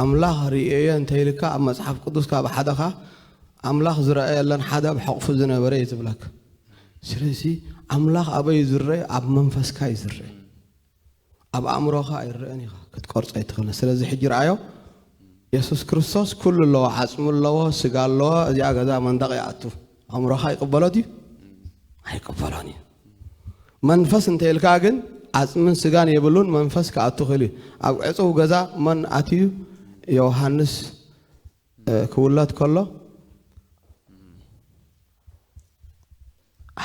ኣምላኽ ርእየ እንተ ኢልካ ኣብ መጽሓፍ ቅዱስ ካብ ሓደኻ ኣምላኽ ዝረኣየለን ሓደ ኣብ ሕቕፉ ዝነበረ እዩ ዝብለካ ስለዚ ኣምላኽ ኣበይ ዝረእ ኣብ መንፈስካ እዩ ዝረእ ኣብ ኣእምሮኻ ኣይረኣን ኢኻ ክትቆርጾ ኣይትኽእልን ስለዚ ሕጂ ረኣዮ የሱስ ክርስቶስ ኩሉ ኣለዎ ዓጽሚ ኣለዎ ስጋ ኣለዎ እዚኣ ገዛ መንደቕ ይኣቱ ኣእምሮኻ ይቕበሎ ድዩ ኣይቅበሎን እዩ መንፈስ እንተይልካ ግን ዓፅምን ስጋን የብሉን መንፈስ ክኣቱ ክእል እዩ ኣብ ዕፅው ገዛ መን ኣትዩ ዮሃንስ ክውለድ ከሎ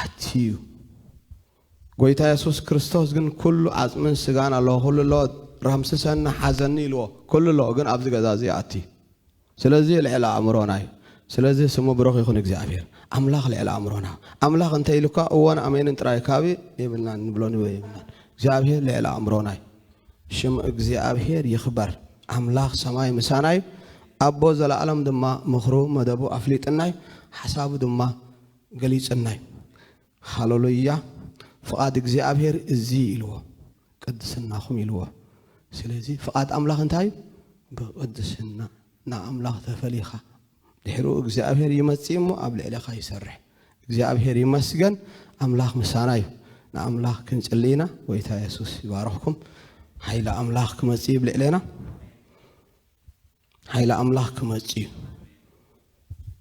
ኣትዩ ጎይታ የሱስ ክርስቶስ ግን ኩሉ ዓጽምን ስጋን ኣሎ ኩሉ ኣሎ ራምስሰኒ ሓዘኒ ኢልዎ ኩሉ ኣሎ ግን ኣብዚ ገዛ እዚ ኣቲ ስለዚ ልዕሊ ኣእምሮና እዩ ስለዚ ስሙ ብሩኽ ይኹን እግዚኣብሔር ኣምላኽ ልዕሊ ኣእምሮና ኣምላኽ እንተ ኢሉካ እዎን ኣሜንን ጥራይ ካቢ የብልናን ንብሎ ንበ የብልናን እግዚኣብሔር ልዕሊ ኣእምሮና እዩ ሽም እግዚኣብሔር ይኽበር ኣምላኽ ሰማይ ምሳና እዩ ኣቦ ዘለኣለም ድማ ምኽሩ መደቡ ኣፍሊጥና እዩ ሓሳቡ ድማ ገሊጽና እዩ ሃሎሎያ ፍቃድ እግዚኣብሔር እዚ እዩ ኢልዎ ቅድስናኹም ኢልዎ ስለዚ ፍቃድ ኣምላኽ እንታይ እዩ ብቅድስና ናብ ኣምላኽ ተፈሊኻ ድሕሩ እግዚኣብሔር ይመጽእ እሞ ኣብ ልዕሌኻ ይሰርሕ እግዚኣብሔር ይመስገን ኣምላኽ ምሳና እዩ ንኣምላኽ ክንጽሊ ኢና ጎይታ የሱስ ይባርኽኩም ሓይሊ ኣምላኽ ክመጽእ እዩ ብልዕሌና ሓይሊ ኣምላኽ ክመጽእ እዩ።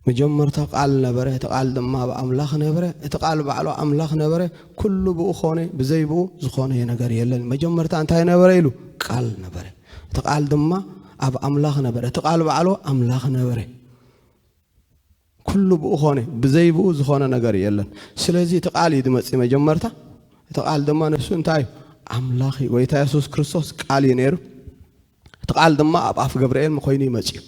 መጀመርታ ቃል ነበረ፣ እቲ ቃል ድማ ኣብ ኣምላኽ ነበረ፣ እቲ ቃል ባዕሉ ኣምላኽ ነበረ፣ ኩሉ ብኡ ኮነ፣ ብዘይ ብኡ ዝኾነ ነገር የለን። መጀመርታ እንታይ ነበረ ኢሉ? ቃል ነበረ። እቲ ቃል ድማ ኣብ ኣምላኽ ነበረ፣ እቲ ቃል ባዕሉ ኣምላኽ ነበረ። ኩሉ ብኡ ኮነ ብዘይ ብኡ ዝኾነ ነገር የለን ስለዚ እቲ ቃል እዩ ድመጺ መጀመርታ እቲ ቃል ድማ ንሱ እንታይ እዩ ኣምላኽ እዩ ጎይታ የሱስ ክርስቶስ ቃል እዩ ነይሩ እቲ ቃል ድማ ኣብ ኣፍ ገብርኤል መኮይኑ እዩ መጺኡ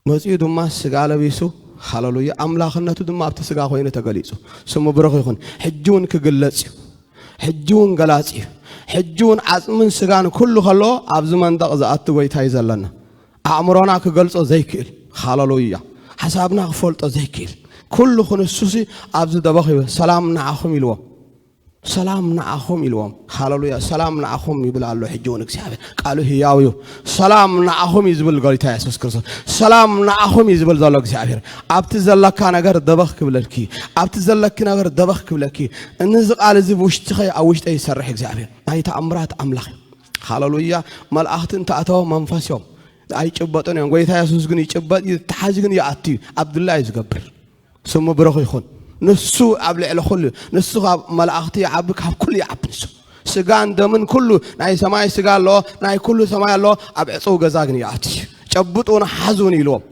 መጺኡ ድማ ስጋ ለቢሱ ሃለሉያ ኣምላኽነቱ ድማ ኣብቲ ስጋ ኮይኑ ተገሊጹ ስሙ ብሩኽ ይኹን ሕጂ እውን ክግለጽ እዩ ሕጂ እውን ገላጺ እዩ ሕጂ እውን ዓጽምን ስጋን ኩሉ ከለዎ ኣብዚ መንደቕ ዝኣቱ ጎይታ እዩ ዘለና ኣእምሮና ክገልጾ ዘይክእል ሃለሉያ ሓሳብና ክፈልጦ ዘይክእል ኩሉ ክንሱሲ ኣብዚ ደበኽ ሰላም ንዓኹም ኢልዎ ሰላም ንዓኹም ኢልዎም ሃለሉያ ሰላም ንዓኹም ይብል ኣሎ ሕጂ እውን እግዚኣብሔር ቃሉ ህያው እዩ ሰላም ንዓኹም እዩ ዝብል ጎይታ የሱስ ክርስቶስ ሰላም ንዓኹም እዩ ዝብል ዘሎ እግዚኣብሔር ኣብቲ ዘለካ ነገር ደበኽ ክብለልኪ ኣብቲ ዘለኪ ነገር ደበኽ ክብለኪ እነዚ ቃል እዚ ብውሽጥኸ ኣብ ውሽጠ ይሰርሕ እግዚኣብሔር ናይ ተኣምራት ኣምላኽ እዩ ሃለሉያ መልኣኽቲ እንተኣተወ መንፈስ እዮም ኣይጭበጡን እዮም ጎይታ የሱስ ግን ይጭበጥ እዩ ተሓዚ ግን ይኣቱ እዩ ኣብ ድላ እዩ ዝገብር ስሙ ብሩኽ ይኹን ንሱ ኣብ ልዕሊ ኩሉ ንሱ ካብ መላእኽቲ ይዓቢ ካብ ኩሉ ይዓቢ ንሱ ስጋን ደምን ኩሉ ናይ ሰማይ ስጋ ኣሎ ናይ ኩሉ ሰማይ ኣሎ ኣብ ዕፅው ገዛ ግን ይኣት እዩ ጨብጡን ሓዙን ኢልዎም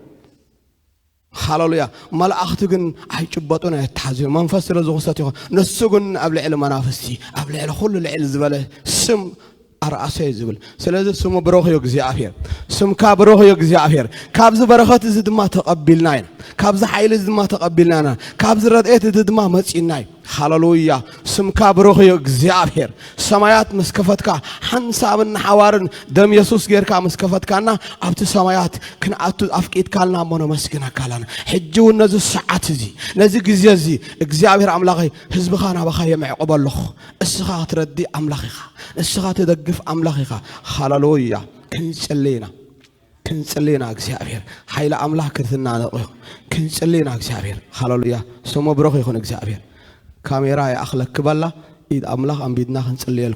ሃለሉያ መላእክቲ ግን ኣይጭበጡን ኣይተሓዙን መንፈስ ስለ ዝኹሰት ይኹን ንሱ ግን ኣብ ልዕሊ መናፍስቲ ኣብ ልዕሊ ኩሉ ልዕል ዝበለ ስም ኣርኣሰ እዩ ዝብል ስለዚ ስሙ ብሩኽ እዩ እግዚኣብሔር ስምካ ብሩኽ እዩ እግዚኣብሔር ካብዚ በረኸት እዚ ድማ ተቐቢልና ኢና ካብዚ ሓይሊ እዚ ድማ ተቐቢልና ኢና ካብዚ ረድኤት እዚ ድማ መፂና እዩ ሃለሉያ ስምካ ብሩኽ እዩ እግዚኣብሔር ሰማያት ምስ ከፈትካ ሓንሳብን ንሓዋርን ደም የሱስ ጌርካ ምስ ከፈትካና ኣብቲ ሰማያት ክንኣቱ ኣፍቂድካልና እሞ ነመስግነካ ኣለና ሕጂ እውን ነዚ ሰዓት እዚ ነዚ ግዜ እዚ እግዚኣብሔር ኣምላኸይ ህዝብኻ ናባኻ የምዕቕቦ ኣለኹ እስኻ ክትረዲ ኣምላኽ ኢኻ እስኻ ትደግፍ ኣምላኽ ኢኻ ሃለሉያ ክንጽሊ ኢና ክንጽሊ ኢና እግዚኣብሔር ሓይሊ ኣምላኽ ክትናነቕ እዩ ክንጽሊ ኢና እግዚኣብሔር ሃለሉያ ስሙ ብሩኽ ይኹን እግዚኣብሔር ካሜራ ይኣኽለኪ በላ ኢድ ኣምላኽ ኣንቢድና ክንጽልየል